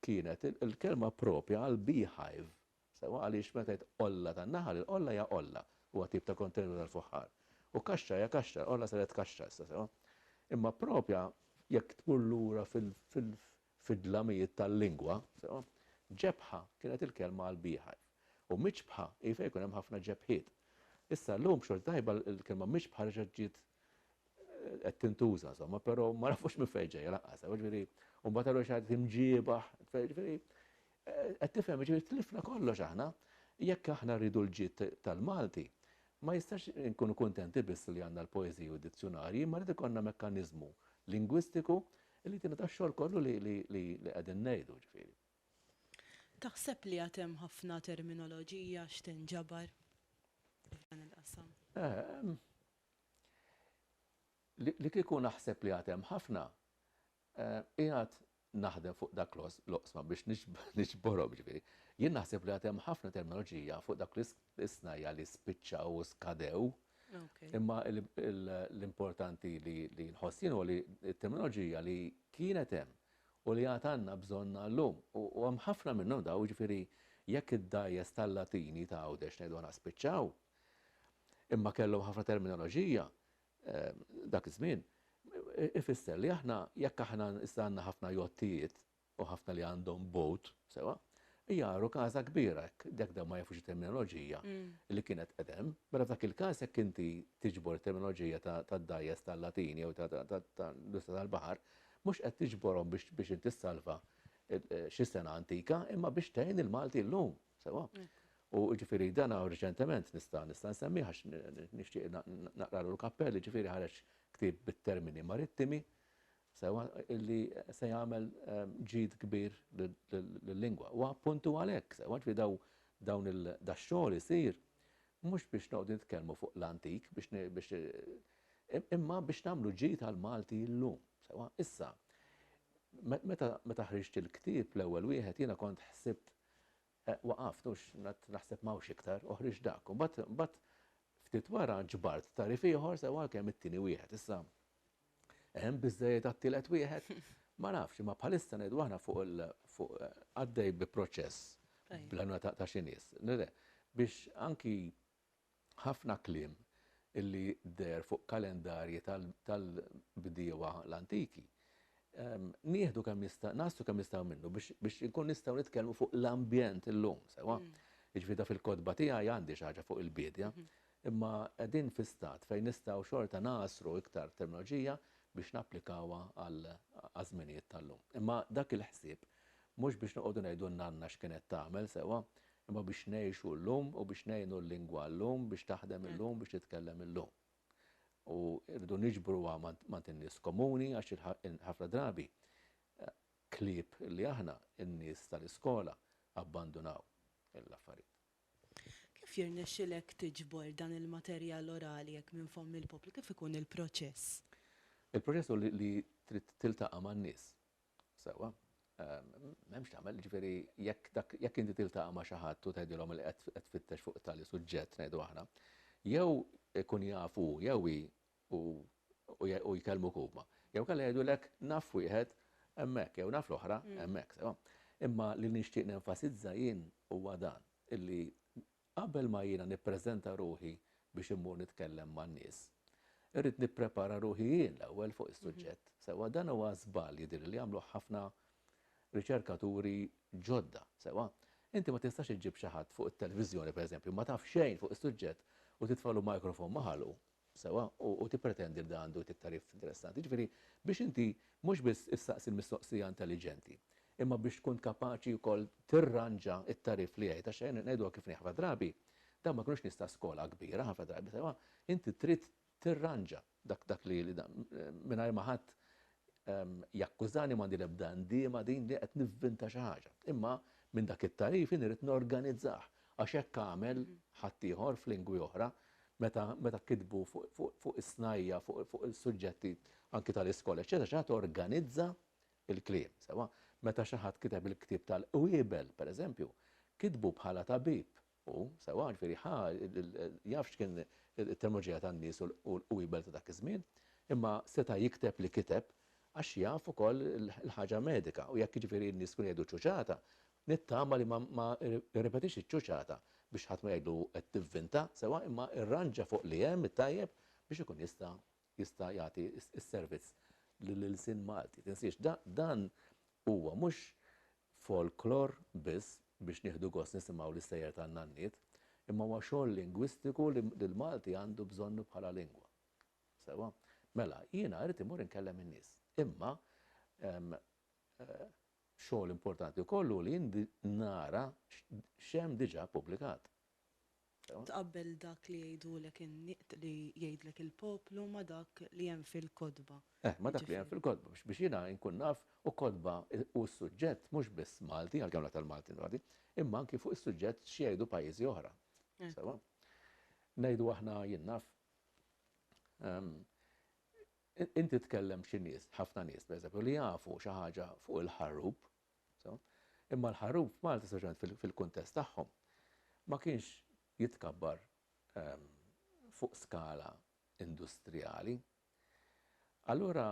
kienet il-kelma proprja għal beehive, sewwa għaliex meta jgħid qolla tan-naħal, il-qolla hija qolla, huwa tip ta' kontenitur tal-fuħħar, u kaxxa hija kaxxa, l-qolla saret kaxxa issa, sewwa. Imma proprja, jekk tmur lura fid-dlamijiet tal-lingwa, sewwa, ġebħa kienet il-kelma għal beehive, u miċbħa hi fejn ikun hemm ħafna ġebħiet. Issa llum b'xorta tajba l-kelma miċbħa reġgħet ġiet qed tintuża somma, però ma nafux minn fejn ġejja laqqas, ġifieri, u mbagħad għalu xi imġiebaħ, ġifieri, eh, qed tifhem, ġifieri tlifna kollox aħna, jekk aħna rridu l-ġid tal-Malti, ma jistax nkunu kuntenti biss li għandna l-poeżiji u d-dizzjonarji, ma rrid ikollna mekkaniżmu lingwistiku li tina ta' xogħol kollu li qegħdin ngħidu ġifieri. Taħseb li għad hemm ħafna terminoloġija x'tinġabar f'dan il-qasam? Eh, li kieku naħseb li għad hemm ħafna, qiegħed naħdem fuq dak l-oqsma biex niġborhom, jiġifieri, jien naħseb li għad hemm ħafna terminoloġija fuq dawk l-isnajja' li spiċċaw u skadew, imma l-importanti li nħoss jien huwa li t-terminoloġija li kienet hemm u li għad għandna bżonnha llum, u hemm ħafna minnhom dawn, jiġifieri, jekk id-dgħajjes tal-Latini ta' Għawdex ngħidu aħna spiċċaw, Imma kellhom ħafna terminoloġija dak iż-żmien. Ifisser li aħna jekk aħna issa għandna ħafna jottijiet u ħafna li għandhom boat, sewwa, jagħru każa kbira hekk, jekk dawn ma jafux it-terminoloġija li kienet qed hemm. Mela f'dak il-każ jekk inti tiġbor it-terminoloġija tad-dgħajjes tal-Latin jew tal-industrija tal-baħar, mhux qed tiġborhom biex inti ssalva xi sena antika imma biex tgħin il-Malti llum. Sewwa? U ġifieri dan urġentement nista' nista' nsemmih għax nixtieq naqralu l-kappell, ġifieri ħareġ ktieb bit-termini marittimi, sewwa illi se jagħmel ehm, ġid kbir lill-lingwa. U appuntu għalhekk, sewwa ġifieri daw dawn il-daxxol isir mhux biex noqgħdu nitkellmu fuq l-antik biex imma biex nagħmlu ġid għal Malti llum. Sewa, issa, meta ħriġt il-ktieb l-ewwel wieħed jiena kont ħsibt Waqaft, u qgħadt naħseb m'hawnx iktar, u ħriġt dak. U mbagħad, mbagħad ftit wara ġbart tagħrif ieħor sew għalkemm it-tieni wieħed. Issa, hemm biżżejjed għat-tielet wieħed? Ma nafx, imma bħalissa ngħidu aħna fuq il, fuq, għaddej bi proċess bl-għajnuna ta' xi nies, biex anki ħafna kliem li deher fuq kalendarji tal-bdiewa l-antiki, nieħdu kemm jista', nagħżlu kemm nistgħu minnu biex inkunu nistgħu nitkellmu fuq l-ambjent illum, sewwa? Jiġifieri da fil-kotba tiegħi għandi xi ħaġa fuq il-biedja, imma qegħdin fi stat fejn nistgħu xorta ngħasru iktar terminoloġija biex napplikawha għaż-żminijiet tal-lum. Imma dak il-ħsieb mhux biex noqogħdu ngħidu n-nanna x'kienet tagħmel, sewwa? imma biex ngħixu llum u biex ngħinu l-lingwa llum biex taħdem illum, biex titkellem illum. U rridu niġbruha ma' in-nies komuni għax ħafna drabi klieb li aħna, in-nies tal-iskola, abbandunaw l-affarijiet. Kif jirnexxilek tiġbor dan il-materjal orali hekk minn fomm il-poplu? Kif ikun il-proċess? Il-proċess hu li trid tiltaqa' man-nies. Sewwa, m'hemmx tagħmel, jiġifieri jekk dak jekk inti tiltaqa' ma' xi ħadd u tgħidilhom li qed qed tfittex fuq tali suġġett ngħidu aħna, jew ikun jaf hu jew hi u u jkellmuk huma. Jew kellha jgħidulek naf wieħed hemmhekk jew naf l-oħra hemmhekk, sewwa. Imma li nixtieq nenfasizza jien huwa dan, illi Qabel ma jiena nippreżenta ruħi biex immur nitkellem man-nies, irrid nipprepara ruħi jien l-ewwel fuq is-suġġett sewwa. Dan huwa żball jidhirli li għamluh ħafna riċerkaturi ġodda sewwa. Inti ma tistax iġġib xi ħadd fuq it-telviżjoni, pereżempju, ma taf xejn fuq is-suġġett u titfagħlu microphone ma' ħalqu Sewwa, u tippretendi li dan għandu jtik tagħrif interessanti. Jiġifieri, biex inti mhux biss issaqsi l-mistoqsija intelliġenti, imma biex tkun kapaċi wkoll tirranġa t-tagħrif li jgħid. Għax ejja ngħiduha kif inhi, ħafna drabi dawn ma jkunux nies ta' skola kbira, ħafna drabi, sewwa, inti trid tirranġa dak li mingħajr ma ħadd Jakkużani m'għandi l-ebda ndiema din li qed nivvinta xi ħaġa. Imma minn dak it-tagħrif jien irrid norganizzah għax hekk għamel ħaddieħor f'lingwi oħra meta meta kitbu fuq is-snajja' fuq il-suġġetti anki tal-iskola eċċetera xi ħadd organizza l-kliem sewwa. Meta xi ħadd kiteb il-ktieb tal-qwiebel pereżempju kitbu bħala tabib Hu, sewwa, ġifieri ħa, jaf x'kien it-terminoloġija tan-nies u l-qwiebel ta' dak iż-żmien, imma seta' jikteb li kiteb għax jaf ukoll il-ħaġa medika u jekk jiġifieri n-nies kienu jgħidu ċuċata, nittama li ma rrepetix iċ-ċuċata biex ħadd ma jgħidlu qed tivvinta, sewwa, imma rranġa fuq li hemm it-tajjeb biex ikun jista' jista' jagħti s-servizz lill-ilsien Malti. Tinsiex, dan huwa mhux folklor biss biex nieħdu gost nisimgħu l-istejjer tan-nanniet, imma huwa xogħol lingwistiku li l-Malti għandu bżonnu bħala lingwa. Sewwa? Mela, jiena irrid immur inkellem in-nies. Imma xogħol importanti wkoll hu li nara x'hemm diġà ppubblikat. Tqabbel dak li jgħidulek li jgħidlek il-poplu ma' dak li hemm fil-kotba. Eh, ma' dak li hemm fil-kotba, biex jiena inkun naf, u kotba u s-suġġett mhux biss Malti, għalkemm l-aktar Malti nroti, imma anki fuq is-suġġett x'jgħidu pajjiżi oħra. Sewwa? Ngħidu aħna, jien naf, inti tkellem xi nies, ħafna nies, pereżempju, li jafu xi ħaġa fuq il-Ħarrub, Imma l-ħaruf Malti, speċjalment fil-kuntest tagħhom, ma kienx jitkabbar fuq skala industrijali. Allura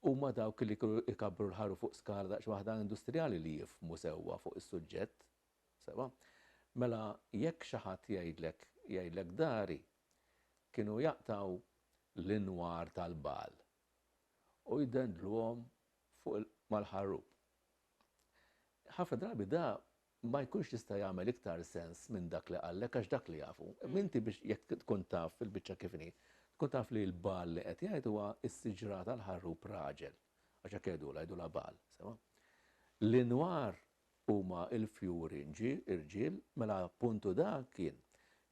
huma dawk li kienu jkabbru l-ħaruf fuq skala daqsxejn waħda industrijali li jifhmu sewwa fuq is-suġġett. Sewwa? Mela jekk xi ħadd jgħidlek jgħidlek dari, kienu jaqtgħu l-inwar tal-bagħal. u jdendluhom fuq mal-ħarrub. Ħafna drabi da ma jkunx jista' jagħmel iktar sens minn dak li qallek għax dak li jaf hu. Imma inti biex jekk tkun taf fil-biċċa kif inhi, tkun taf li l-bagħal li qed jgħid huwa s-siġra tal-ħarrub raġel, għax hekk jgħidulha, jgħidulha bagħal, sewwa. L-inwar huma l-fjuri nġi, irġiel, mela puntu dak kien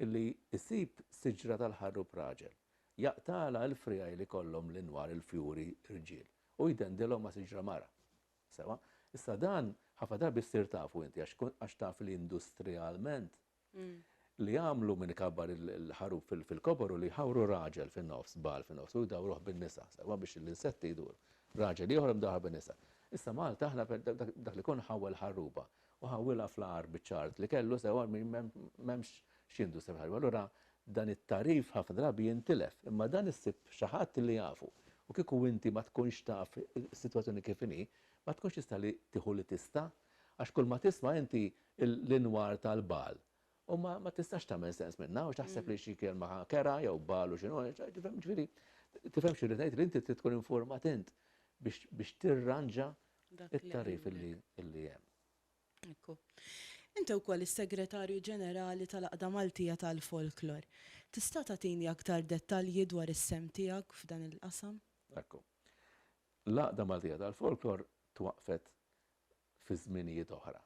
illi jsib siġra tal-ħarrub raġel, jaqtagħlha l-friegħi li jkollhom l-inwar, il-fjuri, irġiel, u jdendilhom ma' siġra mara. Sewwa? Issa dan ħafna drabi ssir tafu inti għax għax taf li industrialment li jagħmlu min ikabbar il-ħaruf fil-kobor u li jħawru raġel fin-nofs, bagħal fin-nofs, u jdawruh bin-nisa, sewa biex l-insetti jduru. Raġel ieħor imdawwar bin-nisa. Issa Malta aħna dak li jkun ħawwel ħarruba u ħawwilha fl-agħar biċ-ċagħart li kellu sewa m'hemmx x'jindu sew ħarruba. Allura dan it-tagħrif ħafna drabi jintilef, imma dan issib xi ħadd li jafu. U kieku inti ma tkunx taf is-sitwazzjoni kif inhi, ma tkunx tista' li tieħu li tista', għax kulma tisma' inti l-inwar tal-bal. U ma ma tistax tagħmel sens minnha għax taħseb li xi kelma kerha jew bal u x'inhu, tifhem ġifieri tifhem xi rrid ngħid li inti trid tkun informat int biex biex tirranġa it-tagħrif li li hemm. Ekku. Inti wkoll is-Segretarju Ġenerali tal-Għaqda Maltija tal-Folklor. Tista' tagħtini aktar dettalji dwar is-sehem tiegħek f'dan il-qasam? Ekku. L-Għaqda Maltija tal-Folklor twaqqfet fi żminijiet oħra,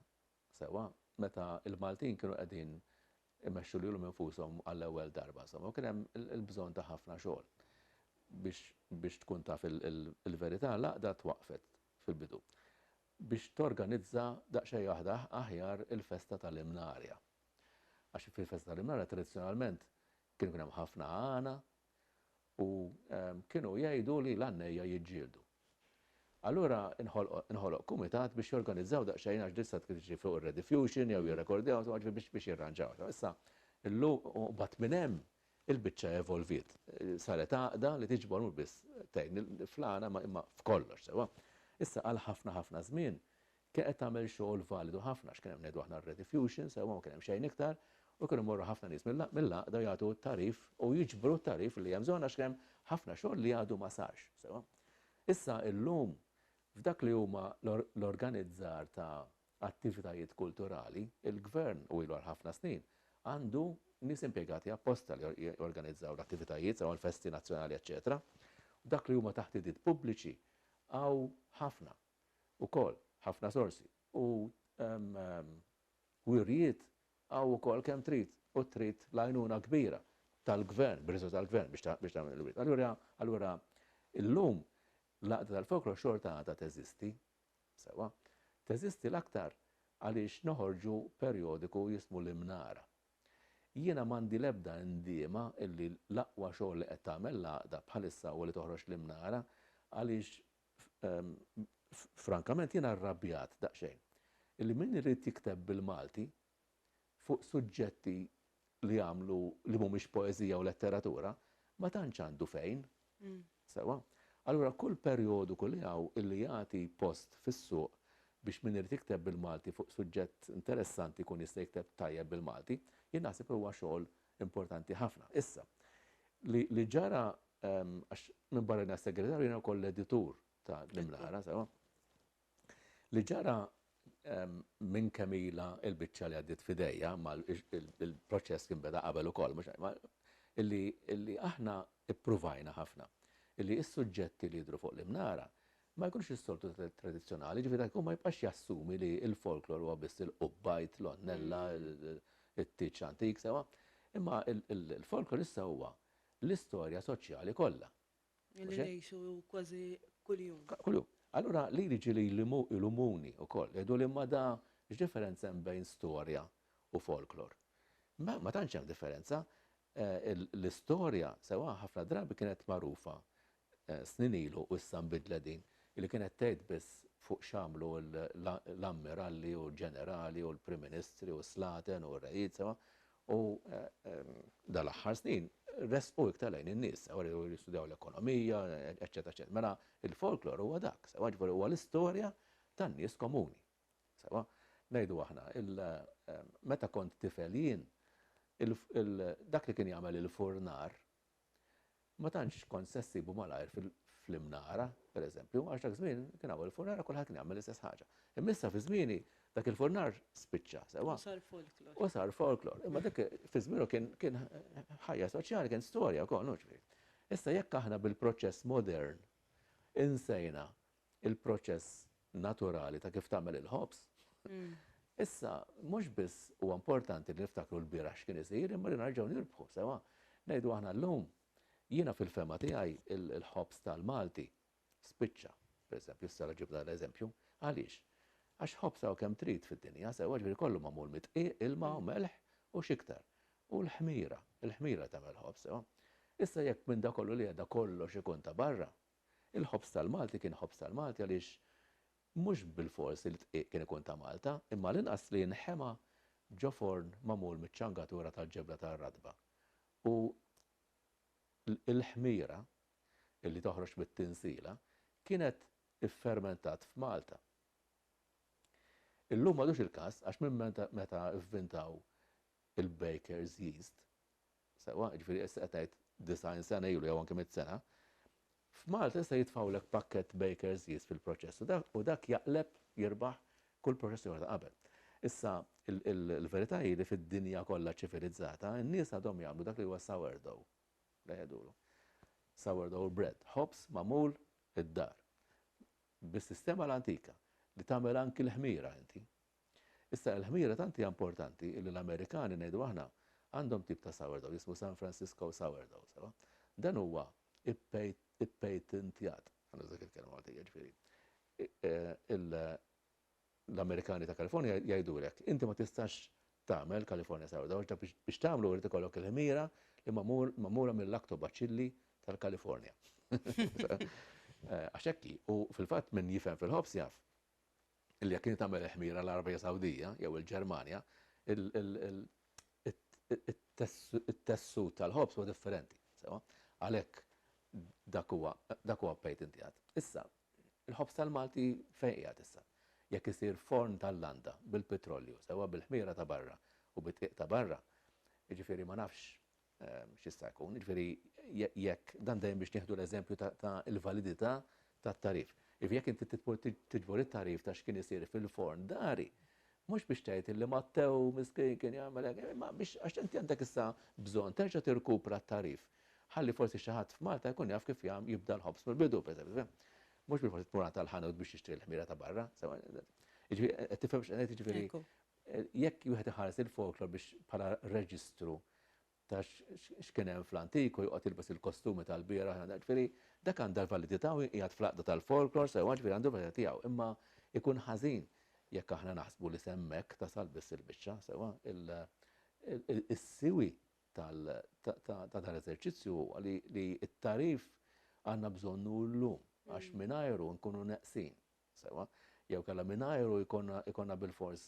sewwa meta l-Maltin kienu qegħdin imexxu lilhom infushom għall-ewwel darba, insomma, u kien hemm il-bżonn ta' ħafna xogħol biex biex tkun taf il-verità, l-għaqda twaqqfet fil-bidu biex torganizza daqsxejn aħjar il-festa tal-Imnarja. Għax fil-festa tal-Imnarja tradizzjonalment kien ikun hemm ħafna għana, u kienu jgħidu li l-għannejja jiġġieldu. Allura inħoloq kumitat biex jorganizzaw daqsxejn għax dissa tkun tiġi fuq ir-rediffusion jew jirrekordjaw insomma ġifieri biex biex jirranġaw. Issa illum u mbagħad minn hemm il-biċċa evolviet. Saret għaqda li tiġbor mhux biss tgħin fl-għana ma imma f'kollox sewwa. Issa għal ħafna ħafna żmien Kienet qed tagħmel xogħol validu ħafna għax kien hemm ngħidu aħna r-rediffusion sewwa ma kien hemm xejn iktar u kienu jmorru ħafna nies mill-għaqda u jagħtu t-tagħrif u jiġbru t-tagħrif li hemm bżonn għax kien hemm ħafna xogħol li għadu ma sarx sewwa. Issa illum f'dak li huma l-organizzar ta' attivitajiet kulturali, il-Gvern u ilu għal ħafna snin għandu nies impjegati apposta li jorganizzaw l-attivitajiet sewwa l-festi nazzjonali eċċetera. F'dak li huma taħtidiet pubbliċi hawn ħafna. ukoll ħafna sorsi u wirjiet hawn ukoll kemm trid u trid l-għajnuna kbira tal-Gvern, bir-riżorsi tal-Gvern biex tagħmel il-wirjiet. Allura, allura illum l-għaqda tal-folklor xorta għadha teżisti, sewwa, teżisti l-aktar għaliex noħorġu perjodiku jismu l-Imnara. Jiena m'għandi l-ebda indiema illi l-aqwa xogħol li qed tagħmel l-għaqda bħalissa huwa li toħroġ l-Imnara għaliex Frankament jiena rrabjat daqsxejn illi min irid jikteb bil-Malti fuq suġġetti li jagħmlu li mhumiex poeżija u letteratura ma tantx għandu fejn. Sewwa? Allura kull perjodiku li hawn illi jagħti post fis-suq biex min irid jikteb bil-Malti fuq suġġett interessanti jkun jista' jikteb tajjeb bil-Malti, jien naħseb li huwa xogħol importanti ħafna. Issa, li, li ġara, ehm, għax minbarra li segretarju jiena wkoll l-editur ta' l-imlara, sewa. Li ġara ehm, minn kemm ilha l-biċċa li għaddiet f'idejja, ma l- il- il- il-proċess kien beda qabel ukoll, mhux ma- illi, illi aħna ippruvajna ħafna illi s-suġġetti li jidhru fuq l-imnara ma jkunx is-soltu tradizzjonali, jiġifieri dak li jkun ma jibqax jassumi li l-folklor huwa biss il-qubbajt, l-għonnella, it-tieġ antik, sewwa. Imma l-folklor issa huwa l-istorja soċjali kollha. Li ngħixu kważi kuljum. Kuljum. Allura li jiġi li jlumuni wkoll, jgħiduli imma da x'differenza hemm bejn storja u folklor? Ma tantx hemm differenza. L-istorja, sewwa, ħafna drabi kienet magħrufa snin ilu u issa nbidlet din, li kienet tgħid biss fuq x'għamlu l-ammiralli u l-ġenerali u l-prim ministri u s-slaten u r-rejiet sewwa u dal-aħħar snin resqu iktar lejn in-nies sewwa li jistudjaw l-ekonomija eċċetera eċċetera. Mela il-folklor huwa dak sewwa jiġifieri huwa l-istorja tan-nies komuni sewwa ngħidu aħna meta kont tifel jien dak li kien jagħmel il-furnar Ma tantx kont se ssibu malajr fl-Imnara, per eżempju, għax dak żmien kien hawn il-furnar u kulħadd kien jagħmel l-istess ħaġa. Imma issa fi żmieni dak il-furnar spiċċa, sewwa. U sar folklor. U sar folklor. Imma dak fi żmienu kien kien ħajja soċjali, kien storja wkoll, hu ġifieri. Issa jekk aħna bil-proċess modern insejna il-proċess naturali ta' kif tagħmel il-ħobż. Issa, mhux biss huwa importanti li niftakru l-bieraħ x'kien isir, imma li nerġgħu nirbħu sewwa. Ngħidu aħna llum, jiena fil-fehma tiegħi il-ħobż tal-Malti spiċċa, pereżempju, issa ġibt dan l-eżempju. Għaliex? Għax ħobż hawn kemm trid fid-dinja, sewwa ġifieri kollu magħmul mid-dqiq, ilma u melħ u x'iktar. U l-ħmira, il-ħmira tagħmel ħobż, sewwa. Issa jekk minn dak kollu li għedha kollox ikun ta' barra, Il-ħobż tal-Malti kien ħobż tal-Malti għaliex mhux bilfors li d-dqiq kien ikun ta' Malta, imma għall-inqas li nħema ġo forn magħmul miċ-ċangatura tal-ġebla tar-ratba. U l-ħmira, li toħroġ mit-tinsiela, kienet iffermentat f'Malta. Illum m'għadux il-każ għax minn meta vvintaw il-baker's yeast, sewwa, jiġifieri issa qed tgħid 90 sena ilu jew anke mitt sena, f'Malta jista' jitfgħulek pakkett Baker's Yeast fil-proċess u dak jaqleb, jirbaħ, kull proċess ieħor ta' qabel. Issa, il-verità hi li fid-dinja kollha ċivilizzata, in-nies għadhom jagħmlu dak li huwa sourdough, li jgħidulu. Sourdough bread, ħobż magħmul id-dar, bis-sistema l-antika, li tagħmel anki l-ħmira inti, Issa, il-ħmira tant hija importanti li l-Amerikani, ngħidu aħna, għandhom tip ta' sourdough jismu San Francisco sourdough, sewa? Dan huwa ippatent-ippatent-tjat, ħa nuża dik il-kelma Maltija, jiġifieri, l-Amerikani ta' California jgħidulek, inti ma tistax tagħmel California sourdough għax dak biex tagħmlu irid ikollok il-ħmira li magħmula mil-lactobaċilli tal-California. Għax hekk hi, u fil-fatt min jifhem fil-ħobż jaf. illi jekk inti tagħmel il-ħmira l-Għarabija Sawdija jew il-Ġermanja, it-tessut tal-ħobż huwa differenti, sewwa? Għalhekk dak huwa dak huwa pejt inti għad. Issa, il-ħobż tal-Malti fejn qiegħed issa? Jekk isir forn tal-landa bil-pitrolju, sewwa bil-ħmira ta' barra u bid-dqiq ta' barra, jiġifieri ma nafx x'jista' jkun, jiġifieri jekk dan dejjem biex nieħdu l-eżempju ta' l-validità tat-tagħrif. Jiġifieri jekk inti titmur tiġbor it-tagħrif ta' x'kien isir fil-forn dari, mhux biex tgħid illi Mattew miskien kien jagħmel hekk, imma biex għax inti għandek issa bżonn terġa' tirkupra t-tagħrif. Ħalli forsi xi ħadd f'Malta jkun jaf kif jagħm jibda l-ħobż mill-bidu, pereżempju. Mhux bilfors tmur għand tal-ħanut biex tixtri l-ħmira ta' barra. Jiġifieri qed tifhem x'qed ngħid, jiġifieri Jekk wieħed iħares lil folklor biex bħala reġistru ta' x'kien hemm fl-antiku joqgħod jilbes il-kostumi tal-bieraħ, ġifieri dak għandha l-validità u jinqiegħed fl-għaqda tal-folklor sewwa ġifieri għandu l-validità tiegħu. Imma jkun ħażin jekk aħna naħsbu li s'hemmhekk tasal biss il-biċċa sewwa. Is-siwi ta' dan l-eżerċizzju huwa li t-tagħrif għandna bżonnu llum għax mingħajru nkunu neqsin. sewwa, jew kellha mingħajru jkollna bilfors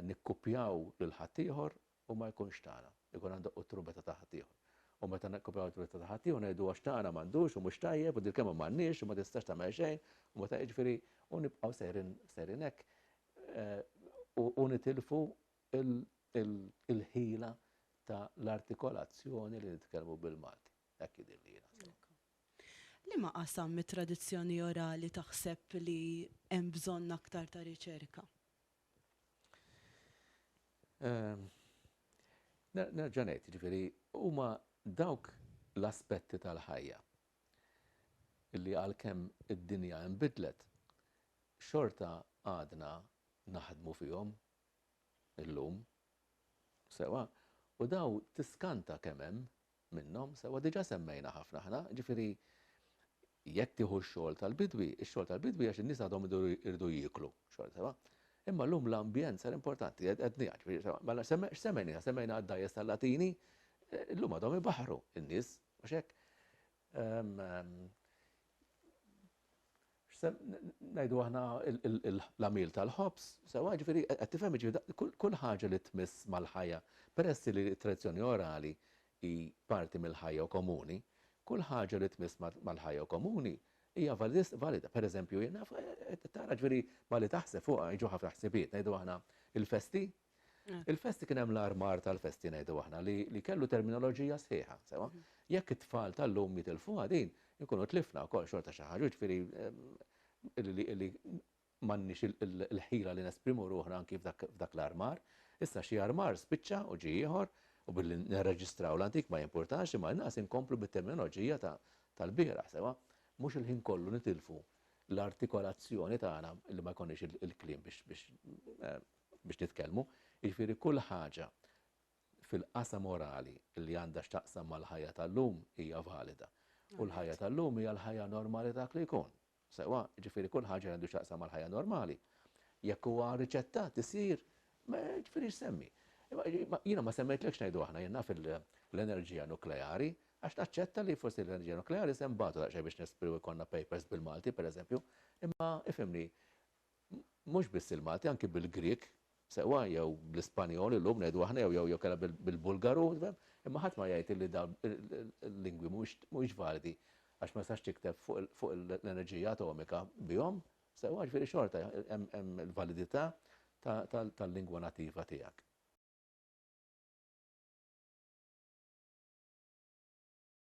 nikkupjaw lil ħaddieħor u ma jkunx tagħna, ikun għandha u t-trumbetta ta' ħaddieħor. U meta nikkupjaw it-trumbetta ta' ħaddieħor ngħidu għax tagħna m'għandux u mhux tajjeb u din il-kelma m'għandniex u ma tistax tagħmel xejn u meta jiġifieri u nibqgħu sejrin hekk u nitilfu l-ħila ta' l-artikolazzjoni li nitkellmu bil-Malti. Hekk jidhirli jiena, sewwa. Liema qasam mit-tradizzjoni orali taħseb li hemm bżonn aktar ta' riċerka? Nerġa' ngħid, jiġifieri huma dawk l-aspetti tal-ħajja li għalkemm id-dinja inbidlet, xorta għadna naħdmu fihom illum, sewwa, u dawn tiskanta kemm hemm minnhom, sewwa diġà semmejna ħafna aħna, jiġifieri jekk tieħu x-xogħol tal-bidwi, ix-xogħol tal-bidwi għax in-nies għadhom iridu jieklu, xogħol sewwa. Imma llum l-ambjent sar importanti, għedniha, ġifieri sewwa. Mela x'semmejniha? Semmejna għad-dgħajjes tal-Latini, llum għadhom ibaħħru n-nies, mhux hekk? Najdu aħna l-għamil tal-ħobs, sewa ġifiri, għattifem ġifiri, kull ħaġa li tmiss mal-ħajja, peress li tradizjoni orali i parti mill-ħajja u komuni, kull ħaġa li tmiss mal-ħajja u komuni, hija valida. Per eżempju, tara ġifiri, ma li taħseb fuqa, iġu ħafna ħsibiet, najdu aħna il-festi, Il-festi kien hemm l-armar tal-festi ngħidu aħna li kellu terminoloġija sħiħa, sewa. Jekk it-tfal tal-lum jitilfuha din, inkunu tlifna wkoll xorta xi ħaġa, jiġifieri li m'għandniex il-ħila li nesprimu ruħna anki f'dak l-armar. Issa xi armar spiċċa u ġie ieħor u billi nirreġistraw l-antik ma jimpurtax imma inqas inkomplu bit-terminoloġija tal-bieraħ, sewa. Mhux il-ħin kollu nitilfu l-artikolazzjoni tagħna li ma jkollniex il-kliem biex biex nitkellmu, jiġifieri kull ħaġa fil-qasam orali li għandha x'taqsam mal-ħajja tal-lum hija valida. U l-ħajja tal-lum hija l-ħajja normali ta' dak li jkun. Sewwa, jiġifieri kull ħaġa li għandu x'taqsam mal-ħajja normali, jekk huwa riċettat isir, ma jiġifieri x'semmi. Imma jiena ma semmejtlekx ngħidu aħna, jien naf l-enerġija nukleari, għax naċċetta li forsi l-enerġija nukleari se nbatu daqsxejn biex nesprimu jkollna papers bil-Malti, pereżempju, imma ifhimni, mhux biss il-Malti, anki bil-Grieg, sewwa, jew bl-Ispanjol illum ngħidu aħna jew jew jew kellha bil-Bulgaru, tifhem? Imma ħadd ma jgħid illi dawn il-lingwi mhumiex mhumiex validi għax ma tistax tikteb fuq fuq l-enerġija atomika bihom, sewwa, jiġifieri xorta hemm hemm il-validità tal-lingwa nattiva tiegħek.